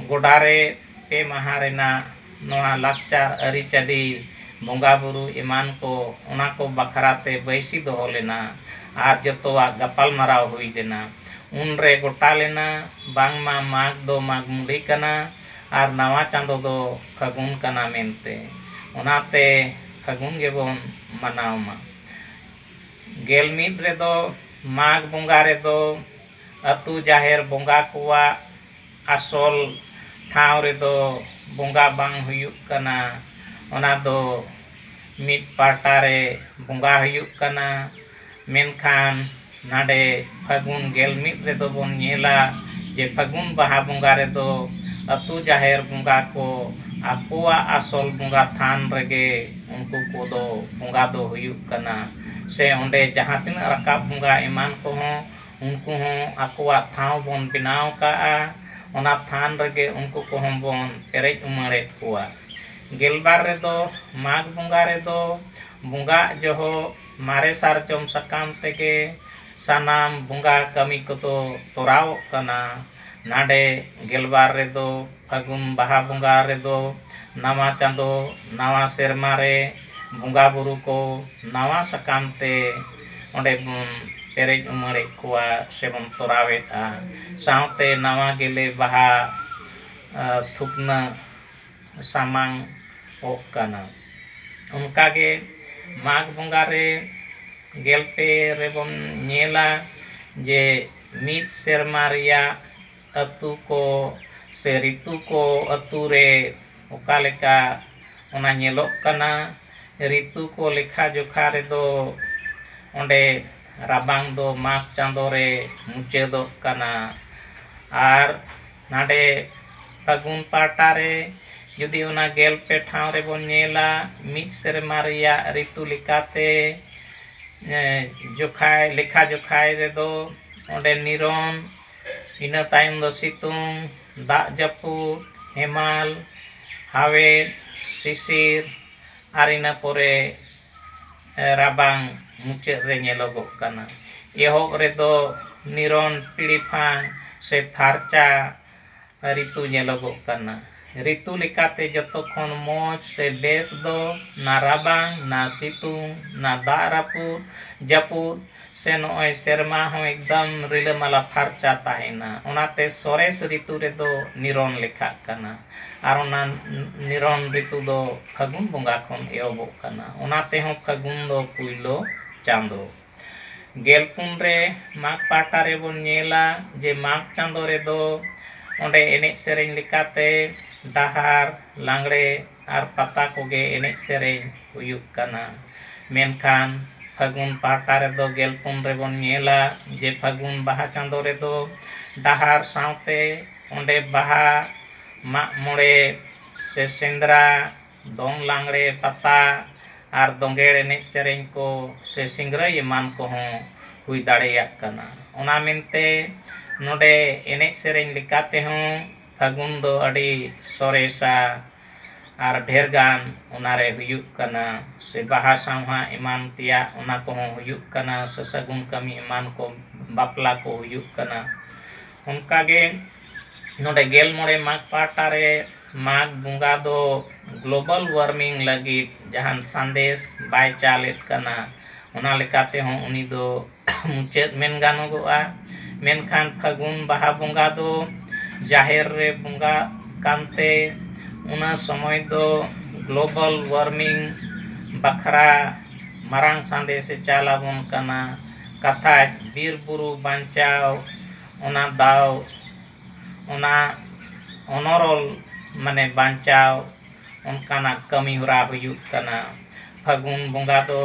ᱜᱚᱰᱟ ᱨᱮ ᱯᱮ ᱢᱟᱦᱟᱸ ᱨᱮᱱᱟᱜ ᱱᱚᱣᱟ ᱞᱟᱠᱪᱟᱨ ᱟᱹᱨᱤ ᱪᱟᱹᱞᱤ ᱵᱚᱸᱜᱟ ᱵᱩᱨᱩ ᱮᱢᱟᱱ ᱠᱚ ᱚᱱᱟ ᱠᱚ ᱵᱟᱠᱷᱨᱟ ᱛᱮ ᱵᱟᱹᱭᱥᱤ ᱫᱚᱦᱚ ᱞᱮᱱᱟ ᱟᱨ ᱡᱚᱛᱚᱣᱟᱜ ᱜᱟᱯᱟᱞ ᱢᱟᱨᱟᱣ ᱦᱩᱭ ᱞᱮᱱᱟ ᱩᱱ ᱨᱮ ᱜᱚᱴᱟ ᱞᱮᱱᱟ ᱵᱟᱝ ᱢᱟ ᱢᱟᱜᱽ ᱫᱚ ᱢᱟᱜᱽ ᱢᱩᱸᱰᱤ ᱠᱟᱱᱟ ᱟᱨ ᱱᱟᱣᱟ ᱪᱟᱸᱫᱚ ᱫᱚ ᱯᱷᱟᱹᱜᱩᱱ ᱠᱟᱱᱟ ᱢᱮᱱᱛᱮ ᱚᱱᱟᱛᱮ ᱯᱷᱟᱹᱜᱩᱱ ᱜᱮᱵᱚᱱ ᱢᱟᱱᱟᱣ ᱢᱟ᱾ ᱜᱮᱞ ᱢᱤᱫ ᱨᱮᱫᱚ ᱢᱟᱜᱽ ᱵᱚᱸᱜᱟ ᱨᱮᱫᱚ ᱟᱹᱛᱩ ᱡᱟᱦᱮᱨ ᱵᱚᱸᱜᱟ ᱠᱚᱣᱟᱜ ᱟᱥᱚᱞ ᱴᱷᱟᱶ ᱨᱮᱫᱚ ᱵᱚᱸᱜᱟ ᱵᱟᱝ ᱦᱩᱭᱩᱜ ᱠᱟᱱᱟ ᱚᱱᱟ ᱫᱚ ᱢᱤᱫ ᱯᱟᱦᱴᱟ ᱨᱮ ᱵᱚᱸᱜᱟ ᱦᱩᱭᱩᱜ ᱠᱟᱱᱟ ᱢᱮᱱᱠᱷᱟᱱ ᱱᱟᱰᱮ ᱯᱷᱟᱹᱜᱩᱱ ᱜᱮᱞ ᱢᱤᱫ ᱨᱮᱫᱚ ᱵᱚᱱ ᱧᱮᱞᱟ ᱡᱮ ᱯᱷᱟᱹᱜᱩᱱ ᱵᱟᱦᱟ ᱵᱚᱸᱜᱟ ᱨᱮᱫᱚ ᱟᱹᱛᱩ ᱡᱟᱦᱮᱨ ᱵᱚᱸᱜᱟ ᱠᱚ ᱟᱠᱚᱣᱟᱜ ᱟᱥᱚᱞ ᱵᱚᱸᱜᱟ ᱛᱷᱟᱱ ᱨᱮᱜᱮ ᱩᱱᱠᱩ ᱠᱚᱫᱚ ᱵᱚᱸᱜᱟ ᱫᱚ ᱦᱩᱭᱩᱜ ᱠᱟᱱᱟ ᱥᱮ ᱚᱸᱰᱮ ᱡᱟᱦᱟᱸ ᱛᱤᱱᱟᱹᱜ ᱨᱟᱠᱟᱵ ᱵᱚᱸᱜᱟ ᱮᱢᱟᱱ ᱠᱚᱦᱚᱸ ᱩᱱᱠᱩ ᱦᱚᱸ ᱟᱠᱚᱣᱟᱜ ᱴᱷᱟᱶ ᱵᱚᱱ ᱵᱮᱱᱟᱣ ᱠᱟᱜᱼᱟ ᱚᱱᱟ ᱛᱷᱟᱱ ᱨᱮᱜᱮ ᱩᱱᱠᱩ ᱠᱚᱦᱚᱸ ᱵᱚᱱ ᱯᱮᱨᱮᱡ ᱩᱢᱟᱹᱲᱮᱫ ᱠᱚᱣᱟ ᱜᱮᱞᱵᱟᱨ ᱨᱮᱫᱚ ᱢᱟᱜᱽ ᱵᱚᱸᱜᱟ ᱨᱮᱫᱚ ᱵᱚᱸᱜᱟᱜ ᱡᱚᱦᱚᱜ ᱢᱟᱨᱮ ᱥᱟᱨᱡᱚᱢ ᱥᱟᱠᱟᱢ ᱛᱮᱜᱮ ᱥᱟᱱᱟᱢ ᱵᱚᱸᱜᱟ ᱠᱟᱹᱢᱤ ᱠᱚᱫᱚ ᱛᱚᱨᱟᱣᱚᱜ ᱠᱟᱱᱟ ᱱᱟᱰᱮ ᱜᱮᱞᱵᱟᱨ ᱨᱮᱫᱚ ᱯᱷᱟᱹᱜᱩᱱ ᱵᱟᱦᱟ ᱵᱚᱸᱜᱟ ᱨᱮᱫᱚ ᱱᱟᱣᱟ ᱪᱟᱸᱫᱚ ᱱᱟᱣᱟ ᱥᱮᱨᱢᱟ ᱨᱮ ᱵᱚᱸᱜᱟ ᱵᱩᱨᱩ ᱠᱚ ᱱᱟᱣᱟ ᱥᱟᱠᱟᱢ ᱛᱮ ᱚᱸᱰᱮ ᱵᱚᱱ ᱯᱮᱨᱮᱡ ᱩᱢᱟᱹᱲᱮᱫ ᱠᱚᱣᱟ ᱥᱮᱵᱚᱱ ᱛᱚᱨᱟᱣᱮᱫᱼᱟ ᱥᱟᱶᱛᱮ ᱱᱟᱣᱟ ᱜᱮᱞᱮ ᱵᱟᱦᱟ ᱛᱷᱩᱯᱱᱟᱹᱜ ᱥᱟᱢᱟᱝ ᱚᱜ ᱠᱟᱱᱟ ᱚᱱᱠᱟ ᱜᱮ ᱢᱟᱜᱽ ᱵᱚᱸᱜᱟ ᱨᱮ ᱜᱮᱞ ᱯᱮ ᱨᱮᱵᱚᱱ ᱧᱮᱞᱟ ᱡᱮ ᱢᱤᱫ ᱥᱮᱨᱢᱟ ᱨᱮᱭᱟᱜ ᱟᱹᱛᱩ ᱠᱚ ᱥᱮ ᱨᱤᱛᱩ ᱠᱚ ᱟᱹᱛᱩ ᱨᱮ ᱚᱠᱟ ᱞᱮᱠᱟ ᱚᱱᱟ ᱧᱮᱞᱚᱜ ᱠᱟᱱᱟ ᱨᱤᱛᱩ ᱠᱚ ᱞᱮᱠᱷᱟ ᱡᱚᱠᱷᱟ ᱨᱮᱫᱚ ᱚᱸᱰᱮ ᱨᱟᱵᱟᱝ ᱫᱚ ᱢᱟᱜᱽ ᱪᱟᱸᱫᱚ ᱨᱮ ᱢᱩᱪᱟᱹᱫᱚᱜ ᱠᱟᱱᱟ ᱟᱨ ᱱᱟᱰᱮ ᱯᱷᱟᱹᱜᱩᱱ ᱯᱟᱦᱴᱟ ᱨᱮ, ᱡᱩᱫᱤ ᱚᱱᱟ ᱜᱮᱞ ᱯᱮ ᱴᱷᱟᱶ ᱨᱮ ᱵᱚᱱ ᱧᱮᱞᱟ, ᱢᱤᱫ ᱥᱮᱨᱢᱟ ᱨᱮᱭᱟᱜ ᱨᱤᱛᱩ ᱞᱮᱠᱟᱛᱮ ᱡᱚᱠᱷᱟᱭ, ᱞᱮᱠᱷᱟ ᱡᱚᱠᱷᱟᱭ ᱨᱮ ᱫᱚ ᱚᱸᱰᱮ ᱱᱤᱨᱚᱱ, ᱤᱱᱟᱹ ᱛᱟᱭᱚᱢ ᱫᱚ ᱥᱤᱛᱩᱝ, ᱫᱟᱜ ᱡᱟᱹᱯᱩᱫ, ᱦᱮᱢᱟᱞ, ᱦᱟᱣᱮᱫ, ᱥᱤᱥᱤᱨ ᱟᱨ ᱤᱱᱟᱹ ᱯᱚᱨᱮ ᱨᱟᱵᱟᱝ ᱢᱩᱪᱟᱹᱫ ᱨᱮ ᱧᱮᱞᱚᱜᱚᱜ ᱠᱟᱱᱟ᱾ ᱮᱦᱚᱵ ᱨᱮ ᱫᱚ ᱱᱤᱨᱚᱱ ᱯᱤᱲᱤᱯᱷᱟᱝ ᱥᱮ ᱯᱷᱟᱨᱪᱟ᱾ ᱨᱤᱛᱩ ᱧᱮᱞᱚᱜᱚᱜ ᱠᱟᱱᱟ᱾ ᱨᱤᱛᱩ ᱞᱮᱠᱟᱛᱮ ᱡᱚᱛᱚ ᱠᱷᱚᱱ ᱢᱚᱡᱽ ᱥᱮ ᱵᱮᱥ ᱫᱚ ᱱᱟ ᱨᱟᱵᱟᱝ, ᱱᱟ ᱥᱤᱛᱩᱝ, ᱱᱟ ᱫᱟᱜ ᱨᱟᱹᱯᱩᱫ ᱡᱟᱹᱯᱩᱫ ᱥᱮ ᱱᱚᱜᱼᱚᱭ ᱥᱮᱨᱢᱟ ᱦᱚᱸ ᱮᱠᱫᱚᱢ ᱨᱤᱞᱟᱹᱢᱟᱞᱟ ᱯᱷᱟᱨᱪᱟ ᱛᱟᱦᱮᱱᱟ᱾ ᱚᱱᱟᱛᱮ ᱥᱚᱨᱮᱥ ᱨᱤᱛᱩ ᱨᱮᱫᱚ ᱱᱤᱨᱚᱱ ᱞᱮᱠᱷᱟᱜ ᱠᱟᱱᱟ᱾ ᱟᱨ ᱚᱱᱟ ᱱᱤᱨᱚᱱ ᱨᱤᱛᱩ ᱫᱚ ᱯᱷᱟᱹᱜᱩᱱ ᱵᱚᱸᱜᱟ ᱠᱷᱚᱱ ᱮᱦᱚᱵᱚᱜ ᱠᱟᱱᱟ᱾ ᱚᱱᱟ ᱛᱮᱦᱚᱸ ᱯᱷᱟᱹᱜᱩᱱ ᱫᱚ ᱯᱩᱭᱞᱳ ᱪᱟᱸᱫᱚ᱾ ᱜᱮᱞ ᱯᱩᱱ ᱨᱮ ᱢᱟᱜᱽ ᱯᱟᱦᱴᱟ ᱨᱮᱵᱚᱱ ᱧᱮᱞᱟ ᱡᱮ ᱢᱟᱜᱽ ᱪᱟᱸᱫᱳ ᱨᱮᱫᱚ ᱚᱸᱰᱮ ᱮᱱᱮᱡ ᱥᱮᱨᱮᱧ ᱞᱮᱠᱟᱛᱮ ᱰᱟᱦᱟᱨ ᱞᱟᱜᱽᱬᱮ ᱟᱨ ᱯᱟᱛᱟ ᱠᱚᱜᱮ ᱮᱱᱮᱡ ᱥᱮᱨᱮᱧ ᱦᱩᱭᱩᱜ ᱠᱟᱱᱟ ᱢᱮᱱᱠᱷᱟᱱ ᱯᱷᱟᱹᱜᱩᱱ ᱯᱟᱦᱴᱟ ᱨᱮᱫᱚ ᱜᱮᱞ ᱯᱩᱱ ᱨᱮᱵᱚᱱ ᱧᱮᱞᱟ ᱡᱮ ᱯᱷᱟᱹᱜᱩᱱ ᱵᱟᱦᱟ ᱪᱟᱸᱫᱳ ᱨᱮᱫᱚ ᱰᱟᱦᱟᱨ ᱥᱟᱶᱛᱮ ᱚᱸᱰᱮ ᱵᱟᱦᱟ ᱢᱟᱜ ᱢᱚᱬᱮ ᱥᱮ ᱥᱮᱸᱫᱽᱨᱟ ᱫᱚᱝ ᱞᱟᱜᱽᱬᱮ ᱯᱟᱛᱟ ᱟᱨ ᱫᱚᱸᱜᱮᱲ ᱮᱱᱮᱡ ᱥᱮᱨᱮᱧ ᱠᱚ ᱥᱮ ᱥᱤᱝᱨᱟᱹᱭ ᱮᱢᱟᱱ ᱠᱚᱦᱚᱸ ᱦᱩᱭ ᱫᱟᱲᱮᱭᱟᱜ ᱠᱟᱱᱟ ᱚᱱᱟ ᱢᱮᱱᱛᱮ ᱱᱚᱰᱮ ᱮᱱᱮᱡ ᱥᱮᱨᱮᱧ ᱞᱮᱠᱟ ᱛᱮᱦᱚᱸ ᱯᱷᱟᱹᱜᱩᱱ ᱫᱚ ᱟᱹᱰᱤ ᱥᱚᱨᱮᱥᱟ ᱟᱨ ᱰᱷᱮᱨ ᱜᱟᱱ ᱚᱱᱟ ᱨᱮ ᱦᱩᱭᱩᱜ ᱠᱟᱱᱟ ᱥᱮ ᱵᱟᱦᱟ ᱥᱟᱶᱦᱟ ᱮᱢᱟᱱ ᱛᱮᱭᱟᱜ ᱚᱱᱟ ᱠᱚᱦᱚᱸ ᱦᱩᱭᱩᱜ ᱠᱟᱱᱟ ᱥᱟᱹᱜᱩᱱ ᱠᱟᱹᱢᱤ ᱮᱢᱟᱱ ᱠᱚ ᱵᱟᱯᱞᱟ ᱠᱚ ᱦᱩᱭᱩᱜ ᱠᱟᱱᱟ ᱚᱱᱠᱟ ᱜᱮ ᱱᱚᱰᱮ ᱜᱮᱞ ᱢᱚᱬᱮ ᱢᱟᱜᱽ ᱯᱟᱦᱴᱟ ᱨᱮ ᱢᱟᱜᱽ ᱵᱚᱸᱜᱟ ᱫᱚ ᱜᱞᱳᱵᱟᱞ ᱳᱣᱟᱨᱢᱤᱝ ᱞᱟᱹᱜᱤᱫ ᱡᱟᱦᱟᱱ ᱥᱟᱸᱫᱮᱥ ᱵᱟᱭ ᱪᱟᱞᱮᱫ ᱠᱟᱱᱟ ᱚᱱᱟ ᱞᱮᱠᱟᱛᱮ ᱦᱚᱸ ᱩᱱᱤ ᱫᱚ ᱢᱩᱪᱟᱹᱫ ᱢᱮᱱ ᱜᱟᱱᱚᱜᱚᱜᱼᱟ ᱢᱮᱱᱠᱷᱟᱱ ᱯᱷᱟᱹᱜᱩᱱ ᱵᱟᱦᱟ ᱵᱚᱸᱜᱟ ᱫᱚ ᱡᱟᱦᱮᱨ ᱨᱮ ᱵᱚᱸᱜᱟᱜ ᱠᱟᱱᱛᱮ ᱚᱱᱟ ᱥᱚᱢᱚᱭ ᱫᱚ ᱜᱞᱳᱵᱟᱞ ᱳᱣᱟᱨᱢᱤᱝ ᱵᱟᱠᱷᱨᱟ ᱢᱟᱨᱟᱝ ᱥᱟᱸᱫᱮᱥᱮ ᱪᱟᱞ ᱟᱵᱚᱱ ᱠᱟᱱᱟ ᱠᱟᱛᱷᱟᱡ ᱵᱤᱨᱼᱵᱩᱨᱩ ᱵᱟᱧᱪᱟᱣ ᱚᱱᱟ ᱫᱟᱣ, ᱚᱱᱟ ᱚᱱᱚᱨᱚᱞ ᱢᱟᱱᱮ ᱵᱟᱧᱪᱟᱣ ᱚᱱᱠᱟᱱᱟᱜ ᱠᱟᱹᱢᱤ ᱦᱚᱨᱟ ᱦᱩᱭᱩᱜ ᱠᱟᱱᱟ᱾ ᱯᱷᱟᱹᱜᱩᱱ ᱵᱚᱸᱜᱟ ᱫᱚ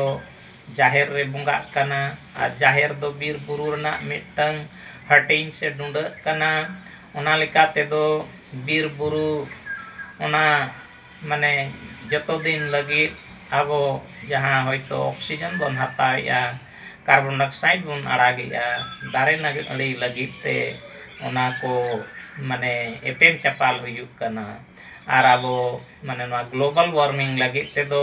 ᱡᱟᱦᱮᱨ ᱨᱮ ᱵᱚᱸᱜᱟᱜ ᱠᱟᱱᱟ ᱟᱨ ᱡᱟᱦᱮᱨ ᱫᱚ ᱵᱤᱨ ᱵᱩᱨᱩ ᱨᱮᱱᱟᱜ ᱢᱤᱫᱴᱟᱹᱝ ᱦᱟᱹᱴᱤᱧ ᱥᱮ ᱰᱩᱸᱰᱟᱹᱜ ᱠᱟᱱᱟ᱾ ᱚᱱᱟ ᱞᱮᱠᱟ ᱛᱮᱫᱚ ᱵᱤᱨ ᱵᱩᱨᱩ ᱚᱱᱟ ᱢᱟᱱᱮ ᱡᱚᱛᱚ ᱫᱤᱱ ᱞᱟᱹᱜᱤᱫ ᱟᱵᱚ ᱡᱟᱦᱟᱸ ᱦᱚᱭᱛᱳ ᱚᱠᱥᱤᱡᱮᱱ ᱵᱚᱱ ᱦᱟᱛᱟᱣᱮᱫᱼᱟ ᱠᱟᱨᱵᱚᱱ ᱰᱟᱭᱚᱠᱥᱟᱭᱤᱰ ᱵᱚᱱ ᱟᱲᱟᱜᱮᱫᱼᱟ ᱫᱟᱨᱮ ᱱᱟᱹᱲᱤ ᱞᱟᱹᱜᱤᱫ ᱛᱮ ᱚᱱᱟ ᱠᱚ ᱢᱟᱱᱮ ᱮᱯᱮᱢ ᱪᱟᱯᱟᱞ ᱦᱩᱭᱩᱜ ᱠᱟᱱᱟ ᱟᱨ ᱟᱵᱚ ᱢᱟᱱᱮ ᱱᱚᱣᱟ ᱜᱞᱳᱵᱟᱞ ᱳᱣᱟᱨᱢᱤᱝ ᱞᱟᱹᱜᱤᱫ ᱛᱮᱫᱚ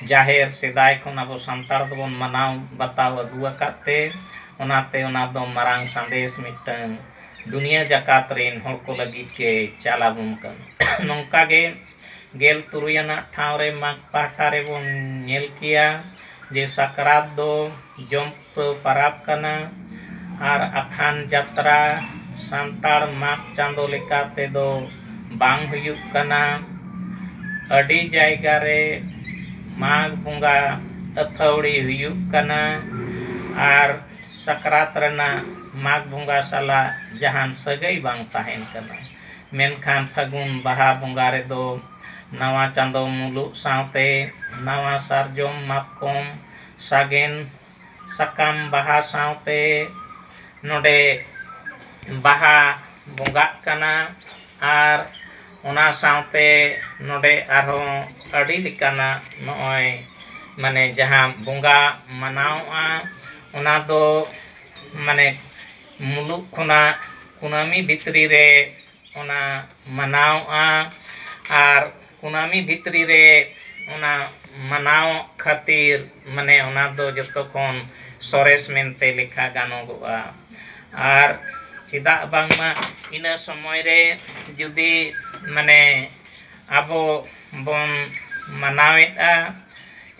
ᱡᱟᱦᱮᱨ ᱥᱮᱫᱟᱭ ᱠᱷᱚᱱ ᱟᱵᱚ ᱥᱟᱱᱛᱟᱲ ᱫᱚᱵᱚᱱ ᱢᱟᱱᱟᱣ ᱵᱟᱛᱟᱣ ᱟᱹᱜᱩ ᱟᱠᱟᱫ ᱛᱮ ᱚᱱᱟᱛᱮ ᱚᱱᱟᱫᱚ ᱢᱟᱨᱟᱝ ᱥᱟᱸᱫᱮᱥ ᱢᱤᱫᱴᱟᱹᱱ ᱫᱩᱱᱤᱭᱟᱹ ᱡᱟᱠᱟᱛ ᱨᱤᱱ ᱦᱚᱲ ᱠᱚ ᱞᱟᱹᱜᱤᱫ ᱜᱮ ᱪᱟᱞ ᱟᱵᱚᱱ ᱠᱟᱱᱟ᱾ ᱱᱚᱝᱠᱟ ᱜᱮ ᱜᱮᱞ ᱛᱩᱨᱩᱭ ᱟᱱᱟᱜ ᱴᱷᱟᱶ ᱨᱮ ᱢᱟᱜᱽ ᱯᱟᱦᱴᱟ ᱨᱮ ᱵᱚᱱ ᱧᱮᱞ ᱠᱮᱭᱟ ᱡᱮ ᱥᱟᱠᱨᱟᱛ ᱫᱚ ᱡᱚᱢ ᱯᱩᱨᱟᱹᱣ ᱯᱟᱨᱟᱵᱽ ᱠᱟᱱᱟ ᱟᱨ ᱟᱠᱷᱟᱱ ᱡᱟᱛᱨᱟ ᱥᱟᱱᱛᱟᱲ ᱢᱟᱜᱽ ᱪᱟᱸᱫᱚ ᱞᱮᱠᱟ ᱛᱮ ᱫᱚ ᱵᱟᱝ ᱦᱩᱭᱩᱜ ᱠᱟᱱᱟ᱾ ᱟᱹᱰᱤ ᱡᱟᱭᱜᱟ ᱨᱮ ᱢᱟᱜᱽ ᱵᱚᱸᱜᱟ ᱟᱹᱛᱷᱟᱹᱣᱲᱤ ᱦᱩᱭᱩᱜ ᱠᱟᱱᱟ ᱟᱨ ᱥᱟᱠᱨᱟᱛ ᱨᱮᱱᱟᱜ ᱢᱟᱜᱽ ᱵᱚᱸᱜᱟ ᱥᱟᱞᱟᱜ ᱡᱟᱦᱟᱱ ᱥᱟᱹᱜᱟᱹᱭ ᱵᱟᱝ ᱛᱟᱦᱮᱱ ᱠᱟᱱᱟ᱾ ᱢᱮᱱᱠᱷᱟᱱ ᱯᱷᱟᱹᱜᱩᱱ ᱵᱟᱦᱟ ᱵᱚᱸᱜᱟ ᱨᱮᱫᱚ ᱱᱟᱣᱟ ᱪᱟᱸᱫᱚ ᱢᱩᱞᱩᱜ ᱥᱟᱶᱛᱮ ᱱᱟᱣᱟ ᱥᱟᱨᱡᱚᱢ ᱢᱟᱛᱠᱚᱢ ᱥᱟᱜᱮᱱ ᱥᱟᱠᱟᱢ ᱵᱟᱦᱟ ᱥᱟᱶᱛᱮ ᱱᱚᱸᱰᱮ ᱵᱟᱦᱟ ᱵᱚᱸᱜᱟᱜ ᱠᱟᱱᱟ ᱟᱨ ᱚᱱᱟ ᱥᱟᱶᱛᱮ ᱱᱚᱰᱮ ᱟᱨᱦᱚᱸ ᱟᱹᱰᱤ ᱞᱮᱠᱟᱱᱟᱜ ᱱᱚᱜᱼᱚᱭ ᱢᱟᱱᱮ ᱡᱟᱦᱟᱸ ᱵᱚᱸᱜᱟ ᱢᱟᱱᱟᱣᱚᱜᱼᱟ ᱚᱱᱟ ᱫᱚ ᱢᱟᱱᱮ ᱢᱩᱞᱩᱜ ᱠᱷᱚᱱᱟᱜ ᱠᱩᱱᱟᱹᱢᱤ ᱵᱷᱤᱛᱨᱤ ᱨᱮ ᱚᱱᱟ ᱢᱟᱱᱟᱣᱚᱜᱼᱟ ᱟᱨ ᱠᱩᱱᱟᱹᱢᱤ ᱵᱷᱤᱛᱨᱤ ᱨᱮ ᱚᱱᱟ ᱢᱟᱱᱟᱣᱚᱜ ᱠᱷᱟᱹᱛᱤᱨ ᱢᱟᱱᱮ ᱚᱱᱟ ᱫᱚ ᱡᱚᱛᱚ ᱠᱷᱚᱱ ᱥᱚᱨᱮᱥ ᱢᱮᱱᱛᱮ ᱞᱮᱠᱷᱟ ᱜᱟᱱᱚᱜᱚᱜᱼᱟ ᱟᱨ ᱪᱮᱫᱟᱜ ᱵᱟᱝᱢᱟ ᱤᱱᱟᱹ ᱥᱚᱢᱚᱭ ᱨᱮ ᱡᱩᱫᱤ ᱢᱟᱱᱮ ᱟᱵᱚ ᱵᱚᱱ ᱢᱟᱱᱟᱣᱮᱫᱼᱟ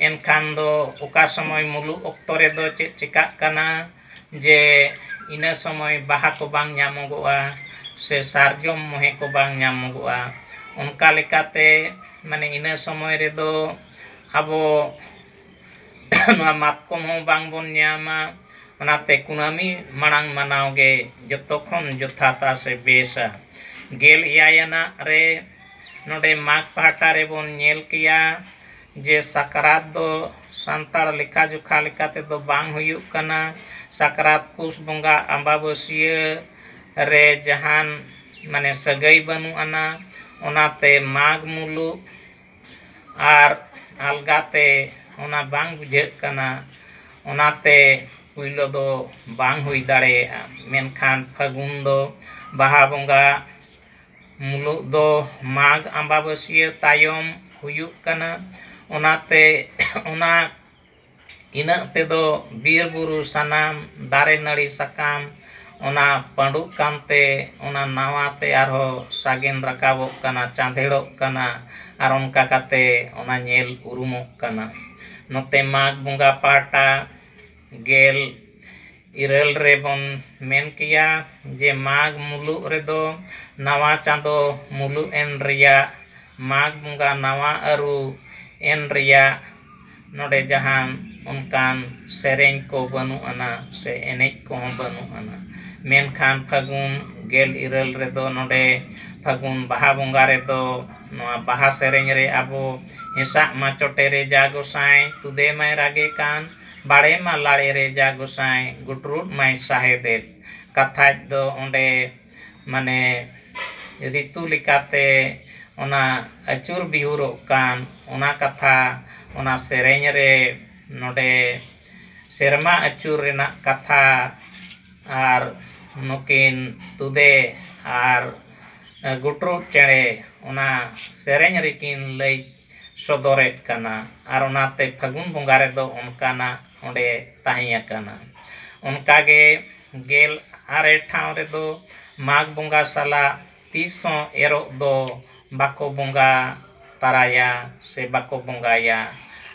ᱮᱱᱠᱷᱟᱱ ᱫᱚ ᱚᱠᱟ ᱥᱚᱢᱚᱭ ᱢᱩᱞᱩᱜ ᱚᱠᱛᱚ ᱨᱮᱫᱚ ᱪᱮᱫ ᱪᱤᱠᱟᱹᱜ ᱠᱟᱱᱟ ᱡᱮ ᱤᱱᱟᱹ ᱥᱚᱢᱚᱭ ᱵᱟᱦᱟ ᱠᱚ ᱵᱟᱝ ᱧᱟᱢᱚᱜᱚᱜᱼᱟ ᱥᱮ ᱥᱟᱨᱡᱚᱢ ᱢᱚᱦᱮ ᱠᱚ ᱵᱟᱝ ᱧᱟᱢᱚᱜᱚᱜᱼᱟ ᱚᱱᱠᱟ ᱞᱮᱠᱟᱛᱮ ᱢᱟᱱᱮ ᱤᱱᱟᱹ ᱥᱚᱢᱚᱭ ᱨᱮᱫᱚ ᱟᱵᱚ ᱱᱚᱣᱟ ᱢᱟᱛᱠᱚᱢ ᱦᱚᱸ ᱵᱟᱝ ᱵᱚᱱ ᱧᱟᱢᱟ ᱚᱱᱟᱛᱮ ᱠᱩᱱᱟᱹᱢᱤ ᱢᱟᱲᱟᱝ ᱢᱟᱱᱟᱣ ᱜᱮ ᱡᱚᱛᱚ ᱠᱷᱚᱱ ᱡᱚᱛᱷᱟᱛᱟ ᱥᱮ ᱵᱮᱥᱟ ᱜᱮᱞ ᱮᱭᱟᱭ ᱟᱱᱟᱜ ᱨᱮ ᱱᱚᱰᱮ ᱢᱟᱜᱽ ᱯᱟᱦᱴᱟ ᱨᱮᱵᱚᱱ ᱧᱮᱞ ᱠᱮᱭᱟ ᱡᱮ ᱥᱟᱠᱨᱟᱛ ᱫᱚ ᱥᱟᱱᱛᱟᱲ ᱞᱮᱠᱷᱟ ᱡᱚᱠᱷᱟ ᱞᱮᱠᱟ ᱛᱮᱫᱚ ᱵᱟᱝ ᱦᱩᱭᱩᱜ ᱠᱟᱱᱟ ᱥᱟᱠᱨᱟᱛ ᱯᱩᱥ ᱵᱚᱸᱜᱟ ᱟᱢᱵᱟᱵᱟᱹᱥᱭᱟᱹ ᱨᱮ ᱡᱟᱦᱟᱱ ᱢᱟᱱᱮ ᱥᱟᱹᱜᱟᱹᱭ ᱵᱟᱹᱱᱩᱜ ᱟᱱᱟ ᱚᱱᱟᱛᱮ ᱢᱟᱜᱽ ᱢᱩᱞᱩᱜ ᱟᱨ ᱟᱞᱜᱟ ᱛᱮ ᱚᱱᱟ ᱵᱟᱝ ᱵᱩᱡᱷᱟᱹᱜ ᱠᱟᱱᱟ ᱚᱱᱟᱛᱮ ᱯᱳᱭᱞᱳ ᱫᱚ ᱵᱟᱝ ᱦᱩᱭ ᱫᱟᱲᱮᱭᱟᱜᱼᱟ ᱢᱮᱱᱠᱷᱟᱱ ᱯᱷᱟᱹᱜᱩᱱ ᱫᱚ ᱵᱟᱦᱟ ᱵᱚᱸᱜᱟ ᱢᱩᱞᱩᱜ ᱫᱚ ᱢᱟᱜᱽ ᱟᱢᱵᱟᱵᱟᱹᱥᱭᱟᱹ ᱛᱟᱭᱚᱢ ᱦᱩᱭᱩᱜ ᱠᱟᱱᱟ ᱚᱱᱟᱛᱮ ᱚᱱᱟ ᱤᱱᱟᱹᱜ ᱛᱮᱫᱚ ᱵᱤᱨ ᱵᱩᱨᱩ ᱥᱟᱱᱟᱢ ᱫᱟᱨᱮ ᱱᱟᱹᱲᱤ ᱥᱟᱠᱟᱢ ᱚᱱᱟ ᱯᱟᱺᱰᱩᱜ ᱠᱟᱱᱛᱮ ᱚᱱᱟ ᱱᱟᱣᱟ ᱛᱮ ᱟᱨᱦᱚᱸ ᱥᱟᱜᱮᱱ ᱨᱟᱠᱟᱵᱚᱜ ᱠᱟᱱᱟ ᱪᱟᱸᱫᱷᱮᱲᱚᱜ ᱠᱟᱱᱟ ᱟᱨ ᱚᱱᱠᱟ ᱠᱟᱛᱮ ᱚᱱᱟ ᱧᱮᱞ ᱩᱨᱩᱢᱚᱜ ᱠᱟᱱᱟ ᱱᱚᱛᱮ ᱢᱟᱜᱽ ᱵᱚᱸᱜᱟ ᱯᱟᱦᱴᱟ ᱜᱮᱞ ᱤᱨᱟᱹᱞ ᱨᱮᱵᱚᱱ ᱢᱮᱱ ᱠᱮᱭᱟ ᱡᱮ ᱢᱟᱜᱽ ᱢᱩᱞᱩᱜ ᱨᱮᱫᱚ ᱱᱟᱣᱟ ᱪᱟᱸᱫᱚ ᱢᱩᱞᱩᱜ ᱮᱱ ᱨᱮᱭᱟᱜ ᱢᱟᱜᱽ ᱵᱚᱸᱜᱟ ᱱᱟᱣᱟ ᱟᱹᱨᱩ ᱮᱱ ᱨᱮᱭᱟᱜ ᱱᱚᱰᱮ ᱡᱟᱦᱟᱱ ᱚᱱᱠᱟᱱ ᱥᱮᱨᱮᱧ ᱠᱚ ᱵᱟᱹᱱᱩᱜ ᱟᱱᱟ ᱥᱮ ᱮᱱᱮᱡ ᱠᱚᱦᱚᱸ ᱵᱟᱹᱱᱩᱜ ᱟᱱᱟ ᱢᱮᱱᱠᱷᱟᱱ ᱯᱷᱟᱹᱜᱩᱱ ᱜᱮᱞ ᱤᱨᱟᱹᱞ ᱨᱮᱫᱚ ᱱᱚᱰᱮ ᱯᱷᱟᱹᱜᱩᱱ ᱵᱟᱦᱟ ᱵᱚᱸᱜᱟ ᱨᱮᱫᱚ ᱱᱚᱣᱟ ᱵᱟᱦᱟ ᱥᱮᱨᱮᱧ ᱨᱮ ᱟᱵᱚ ᱦᱮᱸᱥᱟᱜ ᱢᱟ ᱪᱚᱴᱮᱨᱮ ᱡᱟ ᱜᱚᱸᱥᱟᱭ ᱛᱩᱫᱮ ᱢᱟᱭ ᱨᱟᱜᱮ ᱠᱟᱱ ᱵᱟᱲᱮ ᱢᱟ ᱞᱟᱲᱮ ᱨᱮ ᱡᱟ ᱜᱚᱸᱥᱟᱭ ᱜᱩᱴᱨᱩᱫ ᱢᱟᱭ ᱥᱟᱦᱮᱫᱮᱫ᱾ ᱠᱟᱛᱷᱟᱡ ᱫᱚ ᱚᱸᱰᱮ ᱢᱟᱱᱮ ᱨᱤᱛᱩ ᱞᱮᱠᱟᱛᱮ ᱚᱱᱟ ᱟᱹᱪᱩᱨ ᱵᱤᱦᱩᱨᱚᱜ ᱠᱟᱱ ᱚᱱᱟ ᱠᱟᱛᱷᱟ ᱚᱱᱟ ᱥᱮᱨᱮᱧ ᱨᱮ ᱱᱚᱸᱰᱮ ᱥᱮᱨᱢᱟ ᱟᱹᱪᱩᱨ ᱨᱮᱱᱟᱜ ᱠᱟᱛᱷᱟ ᱟᱨ ᱱᱩᱠᱤᱱ ᱛᱩᱫᱮ ᱟᱨ ᱜᱩᱴᱨᱩᱫ ᱪᱮᱬᱮ ᱚᱱᱟ ᱥᱮᱨᱮᱧ ᱨᱮᱠᱤᱱ ᱞᱟᱹᱭ ᱥᱚᱫᱚᱨ ᱮᱫ ᱠᱟᱱᱟ ᱟᱨ ᱚᱱᱟᱛᱮ ᱯᱷᱟᱹᱜᱩᱱ ᱵᱚᱸᱜᱟ ᱨᱮᱫᱚ ᱚᱱᱠᱟᱱᱟᱜ ᱚᱸᱰᱮ ᱛᱟᱦᱮᱸ ᱟᱠᱟᱱᱟ ᱚᱱᱠᱟ ᱜᱮ ᱜᱮᱞ ᱟᱨᱮ ᱴᱷᱟᱶ ᱨᱮᱫᱚ ᱢᱟᱜᱽ ᱵᱚᱸᱜᱟ ᱥᱟᱞᱟᱜ ᱛᱤᱥ ᱦᱚᱸ ᱮᱨᱚᱜ ᱫᱚ ᱵᱟᱠᱚ ᱵᱚᱸᱜᱟ ᱛᱟᱨᱟᱭᱟ ᱥᱮ ᱵᱟᱠᱚ ᱵᱚᱸᱜᱟᱭᱟ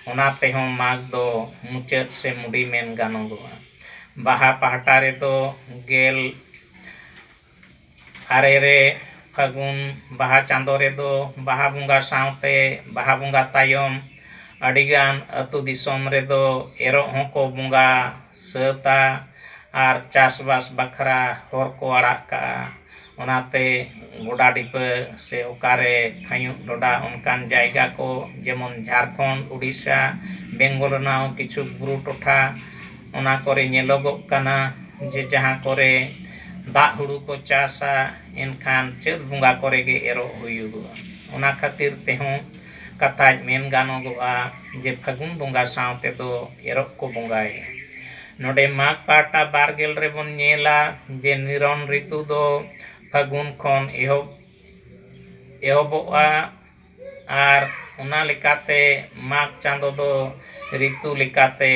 ᱚᱱᱟ ᱛᱮᱦᱚᱸ ᱢᱟᱜᱽ ᱫᱚ ᱢᱩᱪᱟᱹᱫ ᱥᱮ ᱢᱩᱰᱤ ᱢᱮᱱ ᱜᱟᱱᱚᱜᱚᱜᱼᱟ ᱵᱟᱦᱟ ᱯᱟᱦᱴᱟ ᱨᱮᱫᱚ ᱜᱮᱞ ᱟᱨᱮ ᱨᱮ ᱯᱷᱟᱹᱜᱩᱱ ᱵᱟᱦᱟ ᱪᱟᱸᱫᱚ ᱨᱮᱫᱚ ᱵᱟᱦᱟ ᱵᱚᱸᱜᱟ ᱥᱟᱶᱛᱮ ᱵᱟᱦᱟ ᱵᱚᱸᱜᱟ ᱛᱟᱭᱚᱢ ᱟᱹᱰᱤᱜᱟᱱ ᱟᱹᱛᱩ ᱫᱤᱥᱚᱢ ᱨᱮᱫᱚ ᱮᱨᱚᱜ ᱦᱚᱸᱠᱚ ᱵᱚᱸᱜᱟ ᱥᱟᱹᱛᱟ ᱟᱨ ᱪᱟᱥᱵᱟᱥ ᱵᱟᱠᱷᱨᱟ ᱦᱚᱨ ᱠᱚ ᱟᱲᱟᱜ ᱠᱟᱜᱼᱟ ᱚᱱᱟᱛᱮ ᱜᱚᱰᱟ ᱰᱷᱤᱯᱟᱹ ᱥᱮ ᱚᱠᱟᱨᱮ ᱠᱷᱟᱹᱧᱩᱜ ᱰᱷᱚᱰᱟ ᱚᱱᱠᱟᱱ ᱡᱟᱭᱜᱟ ᱠᱚ ᱡᱮᱢᱚᱱ ᱡᱷᱟᱲᱠᱷᱚᱸᱰ ᱩᱰᱤᱥᱟ ᱵᱮᱝᱜᱚᱞ ᱨᱮᱱᱟᱜ ᱦᱚᱸ ᱠᱤᱪᱷᱩ ᱵᱩᱨᱩ ᱴᱚᱴᱷᱟ ᱚᱱᱟ ᱠᱚᱨᱮ ᱧᱮᱞᱚᱜᱚᱜ ᱠᱟᱱᱟ ᱡᱮ ᱡᱟᱦᱟᱸ ᱠᱚᱨᱮ ᱫᱟᱜ ᱦᱩᱲᱩ ᱠᱚ ᱪᱟᱥᱟ ᱮᱱᱠᱷᱟᱱ ᱪᱟᱹᱛ ᱵᱚᱸᱜᱟ ᱠᱚᱨᱮ ᱜᱮ ᱮᱨᱚᱜ ᱦᱩᱭᱩᱜᱚᱜᱼᱟ ᱚᱱᱟ ᱠᱷᱟᱹᱛᱤᱨ ᱛᱮᱦᱚᱸ ᱠᱟᱛᱷᱟᱡ ᱢᱮᱱ ᱜᱟᱱᱚᱜᱚᱜᱼᱟ ᱡᱮ ᱯᱷᱟᱹᱜᱩᱱ ᱵᱚᱸᱜᱟ ᱥᱟᱶ ᱛᱮᱫᱚ ᱮᱨᱚᱜ ᱠᱚ ᱵᱚᱸᱜᱟᱭᱟ ᱱᱚᱰᱮ ᱢᱟᱜᱽ ᱯᱟᱦᱴᱟ ᱵᱟᱨ ᱜᱮᱞ ᱨᱮᱵᱚᱱ ᱧᱮᱞᱟ ᱡᱮ ᱱᱤᱨᱚᱱ ᱨᱤᱛᱩ ᱫᱚ ᱯᱷᱟᱹᱜᱩᱱ ᱠᱷᱚᱱ ᱮᱦᱚᱵ ᱮᱦᱚᱵᱚᱜᱼᱟ ᱟᱨ ᱚᱱᱟ ᱞᱮᱠᱟᱛᱮ ᱢᱟᱜᱽ ᱪᱟᱸᱫᱚ ᱫᱚ ᱨᱤᱛᱩ ᱞᱮᱠᱟᱛᱮ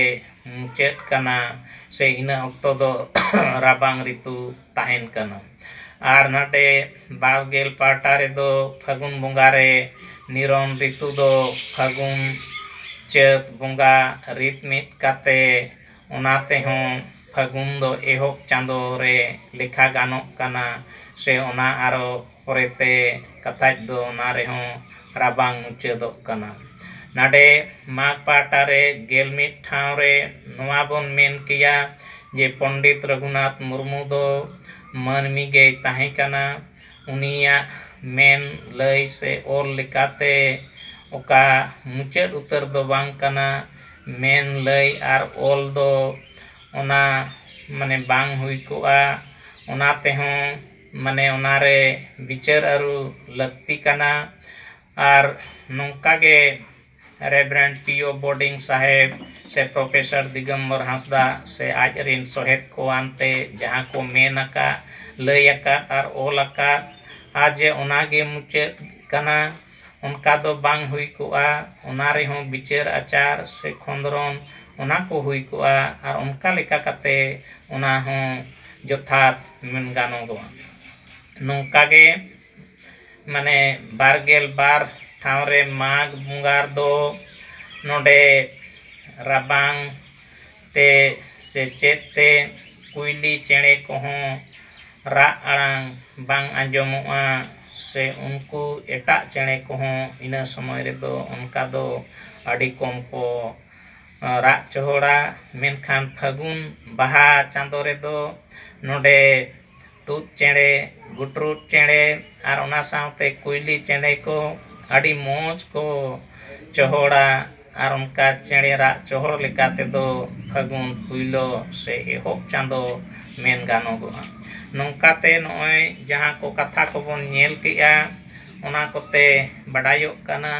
ᱢᱩᱪᱟᱹᱫ ᱠᱟᱱᱟ ᱥᱮ ᱤᱱᱟᱹ ᱚᱠᱛᱚ ᱫᱚ ᱨᱟᱵᱟᱝ ᱨᱤᱛᱩ ᱛᱟᱦᱮᱱ ᱠᱟᱱᱟ ᱟᱨ ᱱᱟᱰᱮ ᱵᱟᱨ ᱜᱮᱞ ᱯᱟᱦᱴᱟ ᱨᱮᱫᱚ ᱯᱷᱟᱹᱜᱩᱱ ᱵᱚᱸᱜᱟ ᱨᱮ ᱱᱤᱨᱚᱱ ᱨᱤᱛᱩ ᱫᱚ ᱯᱷᱟᱹᱜᱩᱱ ᱪᱟᱹᱛ ᱵᱚᱸᱜᱟ ᱨᱤᱛ ᱢᱤᱫ ᱠᱟᱛᱮᱫ ᱚᱱᱟ ᱛᱮᱦᱚᱸ ᱯᱷᱟᱹᱜᱩᱱ ᱫᱚ ᱮᱦᱚᱵ ᱪᱟᱸᱫᱚ ᱨᱮ ᱞᱮᱠᱷᱟ ᱜᱟᱱᱚᱜ ᱠᱟᱱᱟ ᱥᱮ ᱚᱱᱟ ᱟᱨᱚ ᱯᱚᱨᱮᱛᱮ ᱠᱟᱛᱷᱟᱡ ᱫᱚ ᱚᱱᱟ ᱨᱮᱦᱚᱸ ᱨᱟᱵᱟᱝ ᱢᱩᱪᱟᱹᱫᱚᱜ ᱠᱟᱱᱟ᱾ ᱱᱟᱰᱮ ᱢᱟᱜᱽ ᱯᱟᱦᱴᱟ ᱨᱮ ᱜᱮᱞ ᱢᱤᱫ ᱴᱷᱟᱶ ᱨᱮ ᱱᱚᱣᱟ ᱵᱚᱱ ᱢᱮᱱ ᱠᱮᱭᱟ ᱡᱮ ᱯᱚᱱᱰᱤᱛ ᱨᱚᱜᱷᱩᱱᱟᱛᱷ ᱢᱩᱨᱢᱩ ᱫᱚ ᱢᱟᱹᱱᱢᱤ ᱜᱮᱭ ᱛᱟᱦᱮᱸ ᱠᱟᱱᱟ᱾ ᱩᱱᱤᱭᱟᱜ ᱢᱮᱱ, ᱞᱟᱹᱭ ᱥᱮ ᱚᱞ ᱞᱮᱠᱟᱛᱮ ᱚᱠᱟ ᱢᱩᱪᱟᱹᱫ ᱩᱛᱟᱹᱨ ᱫᱚ ᱵᱟᱝ ᱠᱟᱱᱟ᱾ ᱢᱮᱱ, ᱞᱟᱹᱭ ᱟᱨ ᱚᱞ ᱫᱚ ᱚᱱᱟ ᱢᱟᱱᱮ ᱵᱟᱝ ᱦᱩᱭ ᱠᱚᱜᱼᱟ᱾ ᱚᱱᱟ ᱛᱮᱦᱚᱸ᱾ ᱢᱟᱱᱮ ᱚᱱᱟ ᱨᱮ ᱵᱤᱪᱟᱹᱨ ᱟᱹᱨᱩ ᱞᱟᱹᱠᱛᱤ ᱠᱟᱱᱟ ᱟᱨ ᱱᱚᱝᱠᱟ ᱜᱮ ᱨᱮᱵᱷᱨᱮᱱᱰ ᱯᱤ ᱳ ᱵᱳᱰᱤᱝ ᱥᱟᱦᱮᱵᱽ ᱥᱮ ᱯᱨᱚᱯᱷᱮᱥᱚᱨ ᱫᱤᱜᱚᱢᱵᱚᱨ ᱦᱟᱸᱥᱫᱟ ᱥᱮ ᱟᱡ ᱨᱮᱱ ᱥᱚᱦᱮᱫ ᱠᱚ ᱟᱱᱛᱮ ᱡᱟᱦᱟᱸ ᱠᱚ ᱢᱮᱱ ᱟᱠᱟᱫ ᱞᱟᱹᱭ ᱟᱠᱟᱫ ᱟᱨ ᱚᱞ ᱟᱠᱟᱫᱼᱟ ᱡᱮ ᱚᱱᱟ ᱜᱮ ᱢᱩᱪᱟᱹᱫ ᱠᱟᱱᱟ ᱚᱱᱠᱟ ᱫᱚ ᱵᱟᱝ ᱦᱩᱭ ᱠᱚᱜᱼᱟ ᱚᱱᱟ ᱨᱮᱦᱚᱸ ᱵᱤᱪᱟᱹᱨ ᱟᱪᱟᱨ ᱥᱮ ᱠᱷᱚᱸᱫᱽᱨᱚᱱ ᱚᱱᱟ ᱠᱚ ᱦᱩᱭ ᱠᱚᱜᱼᱟ ᱟᱨ ᱚᱱᱠᱟ ᱞᱮᱠᱟ ᱠᱟᱛᱮᱫ ᱚᱱᱟ ᱦᱚᱸ ᱡᱚᱛᱷᱟᱛ ᱢᱮᱱ ᱜᱟᱱᱚᱜᱚᱜᱼᱟ ᱱᱚᱝᱠᱟ ᱜᱮ ᱢᱟᱱᱮ ᱵᱟᱨ ᱜᱮᱞ ᱵᱟᱨ ᱴᱷᱟᱶ ᱨᱮ ᱢᱟᱜᱽ ᱵᱚᱸᱜᱟ ᱨᱮᱫᱚ ᱱᱚᱰᱮ ᱨᱟᱵᱟᱝ ᱛᱮ ᱥᱮ ᱪᱮᱫ ᱛᱮ ᱠᱩᱭᱞᱤ ᱪᱮᱬᱮ ᱠᱚᱦᱚᱸ ᱨᱟᱜ ᱟᱲᱟᱝ ᱵᱟᱝ ᱟᱸᱡᱚᱢᱚᱜᱼᱟ ᱥᱮ ᱩᱱᱠᱩ ᱮᱴᱟᱜ ᱪᱮᱬᱮ ᱠᱚᱦᱚᱸ ᱤᱱᱟᱹ ᱥᱚᱢᱚᱭ ᱨᱮᱫᱚ ᱚᱱᱠᱟ ᱫᱚ ᱟᱹᱰᱤ ᱠᱚᱢ ᱠᱚ ᱨᱟᱜ ᱪᱚᱦᱚᱲᱟ ᱢᱮᱱᱠᱷᱟᱱ ᱯᱷᱟᱹᱜᱩᱱ ᱵᱟᱦᱟ ᱪᱟᱸᱫᱚ ᱨᱮᱫᱚ ᱱᱚᱰᱮ ᱛᱩᱫ ᱪᱮᱬᱮ ᱜᱩᱴᱨᱩ ᱪᱮᱬᱮ ᱟᱨ ᱚᱱᱟ ᱥᱟᱶᱛᱮ ᱠᱩᱭᱞᱤ ᱪᱮᱬᱮ ᱠᱚ ᱟᱹᱰᱤ ᱢᱚᱡᱽ ᱠᱚ ᱪᱚᱦᱚᱲᱟ ᱟᱨ ᱚᱱᱠᱟ ᱪᱮᱬᱮ ᱨᱟᱜ ᱪᱚᱦᱚᱲ ᱞᱮᱠᱟ ᱛᱮᱫᱚ ᱯᱷᱟᱹᱜᱩᱱ ᱯᱳᱭᱞᱳ ᱥᱮ ᱮᱦᱚᱵ ᱪᱟᱸᱫᱚ ᱢᱮᱱ ᱜᱟᱱᱚᱜᱚᱜᱼᱟ ᱱᱚᱝᱠᱟᱛᱮ ᱱᱚᱜᱼᱚᱭ ᱡᱟᱦᱟᱸ ᱠᱚ ᱠᱟᱛᱷᱟ ᱠᱚᱵᱚᱱ ᱧᱮᱞ ᱠᱮᱜᱼᱟ ᱚᱱᱟ ᱠᱚᱛᱮ ᱵᱟᱰᱟᱭᱚᱜ ᱠᱟᱱᱟ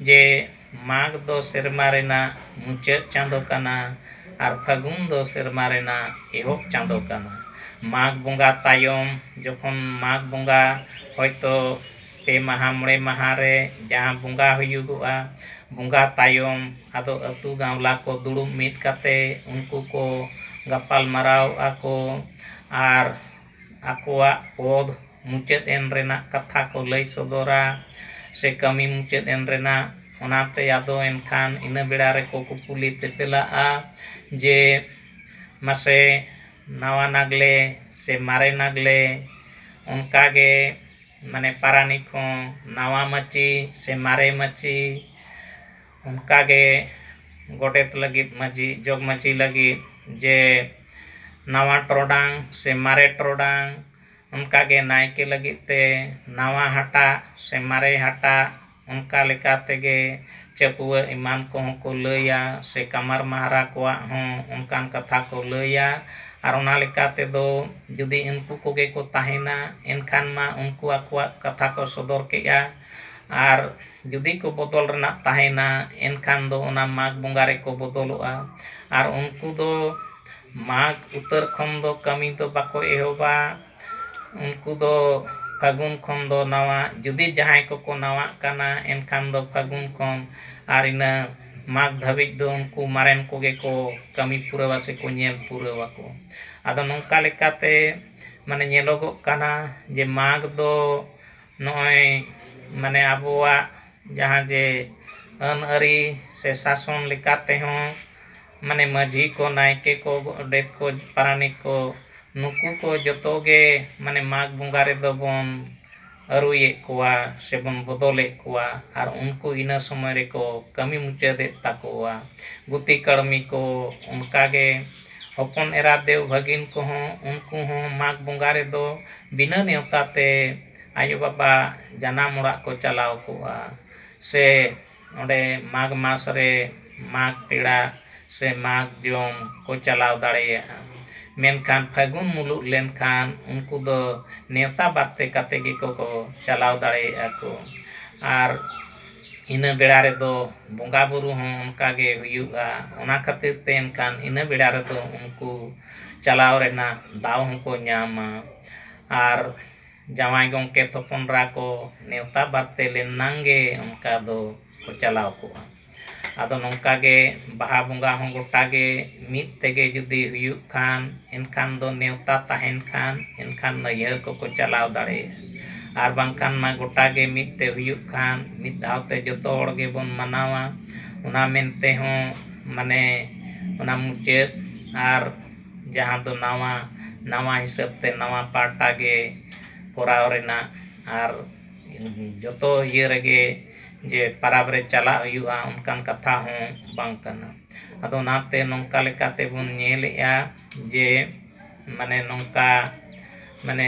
ᱡᱮ ᱢᱟᱜᱽ ᱫᱚ ᱥᱮᱨᱢᱟ ᱨᱮᱱᱟᱜ ᱢᱩᱪᱟᱹᱫ ᱪᱟᱸᱫᱚ ᱠᱟᱱᱟ ᱟᱨ ᱯᱷᱟᱹᱜᱩᱱ ᱫᱚ ᱥᱮᱨᱢᱟ ᱨᱮᱱᱟᱜ ᱮᱦᱚᱵ ᱪᱟᱸᱫᱚ ᱠᱟᱱᱟ᱾ ᱢᱟᱜᱽ ᱵᱚᱸᱜᱟ ᱛᱟᱭᱚᱢ ᱡᱚᱠᱷᱚᱱ ᱢᱟᱜᱽ ᱵᱚᱸᱜᱟ ᱦᱚᱭᱛᱚ ᱯᱮ ᱢᱟᱦᱟᱸ ᱢᱚᱬᱮ ᱢᱟᱦᱟᱸ ᱨᱮ ᱡᱟᱦᱟᱸ ᱵᱚᱸᱜᱟ ᱦᱩᱭᱩᱜᱚᱜᱼᱟ, ᱵᱚᱸᱜᱟ ᱛᱟᱭᱚᱢ ᱟᱫᱚ ᱟᱹᱛᱩ ᱜᱟᱶᱞᱟ ᱠᱚ ᱫᱩᱲᱩᱵ ᱢᱤᱫ ᱠᱟᱛᱮ ᱩᱱᱠᱩ ᱠᱚ ᱜᱟᱯᱟᱞ ᱢᱟᱨᱟᱣᱚᱜᱼᱟ ᱠᱚ ᱟᱨ ᱟᱠᱚᱣᱟᱜ ᱯᱚᱫᱽ ᱢᱩᱪᱟᱹᱫ ᱮᱱ ᱨᱮᱱᱟᱜ ᱠᱟᱛᱷᱟ ᱠᱚ ᱞᱟᱹᱭ ᱥᱚᱫᱚᱨᱟ ᱥᱮ ᱠᱟᱹᱢᱤ ᱢᱩᱪᱟᱹᱫ ᱮᱱ ᱨᱮᱱᱟᱜ᱾ ᱚᱱᱟᱛᱮ ᱟᱫᱚ ᱮᱱᱠᱷᱟᱱ ᱤᱱᱟᱹ ᱵᱮᱲᱟ ᱨᱮᱠᱚ ᱠᱩᱯᱩᱞᱤ ᱛᱮᱯᱮᱞᱟᱜᱼᱟ ᱡᱮ ᱢᱟᱥᱮ ᱱᱟᱣᱟ ᱱᱟᱜᱽᱞᱮ ᱥᱮ ᱢᱟᱨᱮ ᱱᱟᱜᱽᱞᱮ᱾ ᱚᱱᱠᱟ ᱜᱮ ᱢᱟᱱᱮ ᱯᱟᱨᱟᱱᱤᱠ ᱦᱚᱸ ᱱᱟᱣᱟ ᱢᱟᱹᱪᱤ ᱥᱮ ᱢᱟᱨᱮ ᱢᱟᱹᱪᱤ᱾ ᱚᱱᱠᱟ ᱜᱮ ᱜᱚᱰᱮᱛ ᱞᱟᱹᱜᱤᱫ ᱢᱟᱹᱡᱷᱤ ᱡᱚᱜᱽ ᱢᱟᱹᱡᱷᱤ ᱞᱟᱹᱜᱤᱫ ᱡᱮ ᱱᱟᱣᱟ ᱴᱨᱚᱰᱟᱝ ᱥᱮ ᱢᱟᱨᱮ ᱴᱨᱚᱰᱟᱝ᱾ ᱚᱱᱠᱟ ᱜᱮ ᱱᱟᱭᱠᱮ ᱞᱟᱹᱜᱤᱫ ᱛᱮ ᱱᱟᱣᱟ ᱦᱟᱴᱟᱜ ᱥᱮ ᱢᱟᱨᱮ ᱦᱟᱴᱟᱜ ᱚᱱᱠᱟ ᱞᱮᱠᱟ ᱛᱮᱜᱮ ᱪᱟᱹᱯᱩᱣᱟᱹᱜ ᱮᱢᱟᱱ ᱠᱚᱦᱚᱸ ᱠᱚ ᱞᱟᱹᱭᱟ ᱥᱮ ᱠᱟᱢᱟᱨ ᱢᱟᱦᱟᱨᱟ ᱠᱚᱣᱟᱜ ᱦᱚᱸ ᱚᱱᱠᱟᱱ ᱠᱟᱛᱷᱟ ᱠᱚ ᱞᱟᱹᱭᱟ ᱟᱨ ᱚᱱᱟ ᱞᱮᱠᱟ ᱛᱮᱫᱚ ᱡᱩᱫᱤ ᱩᱱᱠᱩ ᱠᱚᱜᱮ ᱠᱚ ᱛᱟᱦᱮᱱᱟ ᱮᱱᱠᱷᱟᱱ ᱢᱟ ᱩᱱᱠᱩ ᱟᱠᱚᱣᱟᱜ ᱠᱟᱛᱷᱟ ᱠᱚ ᱥᱚᱫᱚᱨ ᱠᱮᱫᱼᱟ ᱟᱨ ᱡᱩᱫᱤ ᱠᱚ ᱵᱚᱫᱚᱞ ᱨᱮᱱᱟᱜ ᱛᱟᱦᱮᱱᱟ ᱮᱱᱠᱷᱟᱱ ᱫᱚ ᱚᱱᱟ ᱢᱟᱜᱽ ᱵᱚᱸᱜᱟ ᱨᱮᱠᱚ ᱵᱚᱫᱚᱞᱚᱜᱼᱟ ᱟᱨ ᱩᱱᱠᱩ ᱫᱚ ᱢᱟᱜᱽ ᱩᱛᱟᱹᱨ ᱠᱷᱚᱱ ᱫᱚ ᱠᱟᱹᱢᱤ ᱫᱚ ᱵᱟᱠᱚ ᱮᱦᱚᱵᱟ ᱩᱱᱠᱩ ᱫᱚ ᱯᱷᱟᱹᱜᱩᱱ ᱠᱷᱚᱱ ᱫᱚ ᱱᱟᱣᱟ ᱡᱩᱫᱤ ᱡᱟᱦᱟᱸᱭ ᱠᱚᱠᱚ ᱱᱟᱣᱟᱜ ᱠᱟᱱᱟ ᱮᱱᱠᱷᱟᱱ ᱫᱚ ᱯᱷᱟᱹᱜᱩᱱ ᱠᱷᱚᱱ ᱟᱨ ᱤᱱᱟᱹ ᱢᱟᱜᱽ ᱫᱷᱟᱹᱵᱤᱡ ᱫᱚ ᱩᱱᱠᱩ ᱢᱟᱨᱮᱱ ᱠᱚᱜᱮ ᱠᱚ ᱠᱟᱹᱢᱤ ᱯᱩᱨᱟᱹᱣᱟ ᱥᱮᱠᱚ ᱧᱮᱞ ᱯᱩᱨᱟᱹᱣᱟ ᱠᱚ ᱟᱫᱚ ᱱᱚᱝᱠᱟ ᱞᱮᱠᱟᱛᱮ ᱢᱟᱱᱮ ᱧᱮᱞᱚᱜᱚᱜ ᱠᱟᱱᱟ ᱡᱮ ᱢᱟᱜᱽ ᱫᱚ ᱱᱚᱜᱼᱚᱭ ᱢᱟᱱᱮ ᱟᱵᱚᱣᱟᱜ ᱡᱟᱦᱟᱸ ᱡᱮ ᱟᱹᱱ ᱟᱹᱨᱤ ᱥᱮ ᱥᱟᱥᱚᱱ ᱞᱮᱠᱟᱛᱮ ᱦᱚᱸ ᱢᱟᱱᱮ ᱢᱟᱺᱡᱷᱤ ᱠᱚ ᱱᱟᱭᱠᱮ ᱠᱚ ᱜᱚᱰᱮᱛ ᱠᱚ ᱯᱟᱨᱟᱱᱤᱠ ᱠᱚ ᱱᱩᱠᱩ ᱠᱚ ᱡᱚᱛᱚ ᱜᱮ ᱢᱟᱱᱮ ᱢᱟᱜᱽ ᱵᱚᱸᱜᱟ ᱨᱮᱫᱚ ᱵᱚᱱ ᱟᱹᱨᱩᱭᱮᱫ ᱠᱚᱣᱟ ᱥᱮ ᱵᱚᱱ ᱵᱚᱫᱚᱞᱮᱫ ᱠᱚᱣᱟ ᱟᱨ ᱩᱱᱠᱩ ᱤᱱᱟᱹ ᱥᱚᱢᱚᱭ ᱨᱮᱠᱚ ᱠᱟᱹᱢᱤ ᱢᱩᱪᱟᱹᱫᱮᱫ ᱛᱟᱠᱚᱣᱟ ᱜᱩᱛᱤ ᱠᱟᱹᱲᱢᱤ ᱠᱚ ᱚᱱᱠᱟ ᱜᱮ ᱦᱚᱯᱚᱱ ᱮᱨᱟ ᱫᱮᱣ ᱵᱷᱟᱹᱜᱤᱱ ᱠᱚᱦᱚᱸ ᱩᱱᱠᱩ ᱦᱚᱸ ᱢᱟᱜᱽ ᱵᱚᱸᱜᱟ ᱨᱮᱫᱚ ᱵᱤᱱᱟᱹ ᱱᱮᱶᱛᱟ ᱛᱮ ᱟᱭᱳᱼᱵᱟᱵᱟ ᱡᱟᱱᱟᱢ ᱚᱲᱟᱜ ᱠᱚ ᱪᱟᱞᱟᱣ ᱠᱚᱜᱼᱟ ᱥᱮ ᱚᱸᱰᱮ ᱢᱟᱜᱽ ᱢᱟᱥ ᱨᱮ ᱢᱟᱜᱽ ᱯᱮᱲᱟ ᱥᱮ ᱢᱟᱜᱽ ᱡᱚᱢ ᱠᱚ ᱪᱟᱞᱟᱣ ᱫᱟᱲᱮᱭᱟᱜᱼᱟ ᱢᱮᱱᱠᱷᱟᱱ ᱯᱷᱟᱹᱜᱩᱱ ᱢᱩᱞᱩᱜ ᱞᱮᱱᱠᱷᱟᱱ ᱩᱱᱠᱩ ᱫᱚ ᱱᱮᱶᱛᱟ ᱵᱟᱨᱛᱮ ᱠᱟᱛᱮᱫ ᱜᱮᱠᱚ ᱠᱚ ᱪᱟᱞᱟᱣ ᱫᱟᱲᱮᱭᱟᱜᱼᱟ ᱠᱚ ᱟᱨ ᱤᱱᱟᱹ ᱵᱮᱲᱟ ᱨᱮᱫᱚ ᱵᱚᱸᱜᱟ ᱵᱩᱨᱩ ᱦᱚᱸ ᱚᱱᱠᱟ ᱜᱮ ᱦᱩᱭᱩᱜᱼᱟ ᱚᱱᱟ ᱠᱷᱟᱹᱛᱤᱨ ᱛᱮ ᱮᱱᱠᱷᱟᱱ ᱤᱱᱟᱹ ᱵᱮᱲᱟ ᱨᱮᱫᱚ ᱩᱱᱠᱩ ᱪᱟᱞᱟᱣ ᱨᱮᱱᱟᱜ ᱫᱟᱣ ᱦᱚᱸᱠᱚ ᱧᱟᱢᱟ ᱟᱨ ᱡᱟᱶᱟᱭ ᱜᱚᱢᱠᱮ ᱛᱷᱚᱯᱚᱱᱨᱟ ᱠᱚ ᱱᱮᱣᱛᱟ ᱵᱟᱨᱛᱮ ᱞᱮᱱᱱᱟᱝ ᱜᱮ ᱚᱱᱠᱟ ᱫᱚ ᱠᱚ ᱪᱟᱞᱟᱣ ᱠᱚᱜᱼᱟ ᱟᱫᱚ ᱱᱚᱝᱠᱟ ᱜᱮ ᱵᱟᱦᱟ ᱵᱚᱸᱜᱟ ᱦᱚᱸ ᱜᱚᱴᱟ ᱜᱮ ᱢᱤᱫ ᱛᱮᱜᱮ ᱡᱩᱫᱤ ᱦᱩᱭᱩᱜ ᱠᱷᱟᱱ ᱮᱱᱠᱷᱟᱱ ᱫᱚ ᱱᱮᱣᱛᱟ ᱛᱟᱦᱮᱱ ᱠᱷᱟᱱ ᱮᱱᱠᱷᱟᱱ ᱱᱟᱹᱭᱦᱟᱹᱨ ᱠᱚᱠᱚ ᱪᱟᱞᱟᱣ ᱫᱟᱲᱮᱭᱟᱜᱼᱟ ᱟᱨ ᱵᱟᱝᱠᱷᱟᱱ ᱢᱟ ᱜᱚᱴᱟ ᱜᱮ ᱢᱤᱫ ᱛᱮ ᱦᱩᱭᱩᱜ ᱠᱷᱟᱱ ᱢᱤᱫ ᱫᱷᱟᱣ ᱛᱮ ᱡᱚᱛᱚ ᱦᱚᱲ ᱜᱮᱵᱚᱱ ᱢᱟᱱᱟᱣᱟ ᱚᱱᱟ ᱢᱮᱱᱛᱮ ᱦᱚᱸ ᱢᱟᱱᱮ ᱚᱱᱟ ᱢᱩᱪᱟᱹᱫ ᱟᱨ ᱡᱟᱦᱟᱸ ᱫᱚ ᱱᱟᱣᱟ ᱱᱟᱣᱟ ᱦᱤᱥᱟᱹᱵ ᱛᱮ ᱱᱟᱣᱟ ᱯᱟᱦᱴᱟ ᱜᱮ ᱠᱚᱨᱟᱣ ᱨᱮᱱᱟᱜ ᱟᱨ ᱡᱚᱛᱚ ᱤᱭᱟᱹ ᱨᱮᱜᱮ ᱡᱮ ᱯᱟᱨᱟᱵᱽ ᱨᱮ ᱪᱟᱞᱟᱜ ᱦᱩᱭᱩᱜᱼᱟ ᱚᱱᱠᱟᱱ ᱠᱟᱛᱷᱟ ᱦᱚᱸ ᱵᱟᱝ ᱠᱟᱱᱟ ᱟᱫᱚ ᱚᱱᱟᱛᱮ ᱱᱚᱝᱠᱟ ᱞᱮᱠᱟ ᱛᱮᱵᱚᱱ ᱧᱮᱞᱮᱫᱼᱟ ᱡᱮ ᱢᱟᱱᱮ ᱱᱚᱝᱠᱟ ᱢᱟᱱᱮ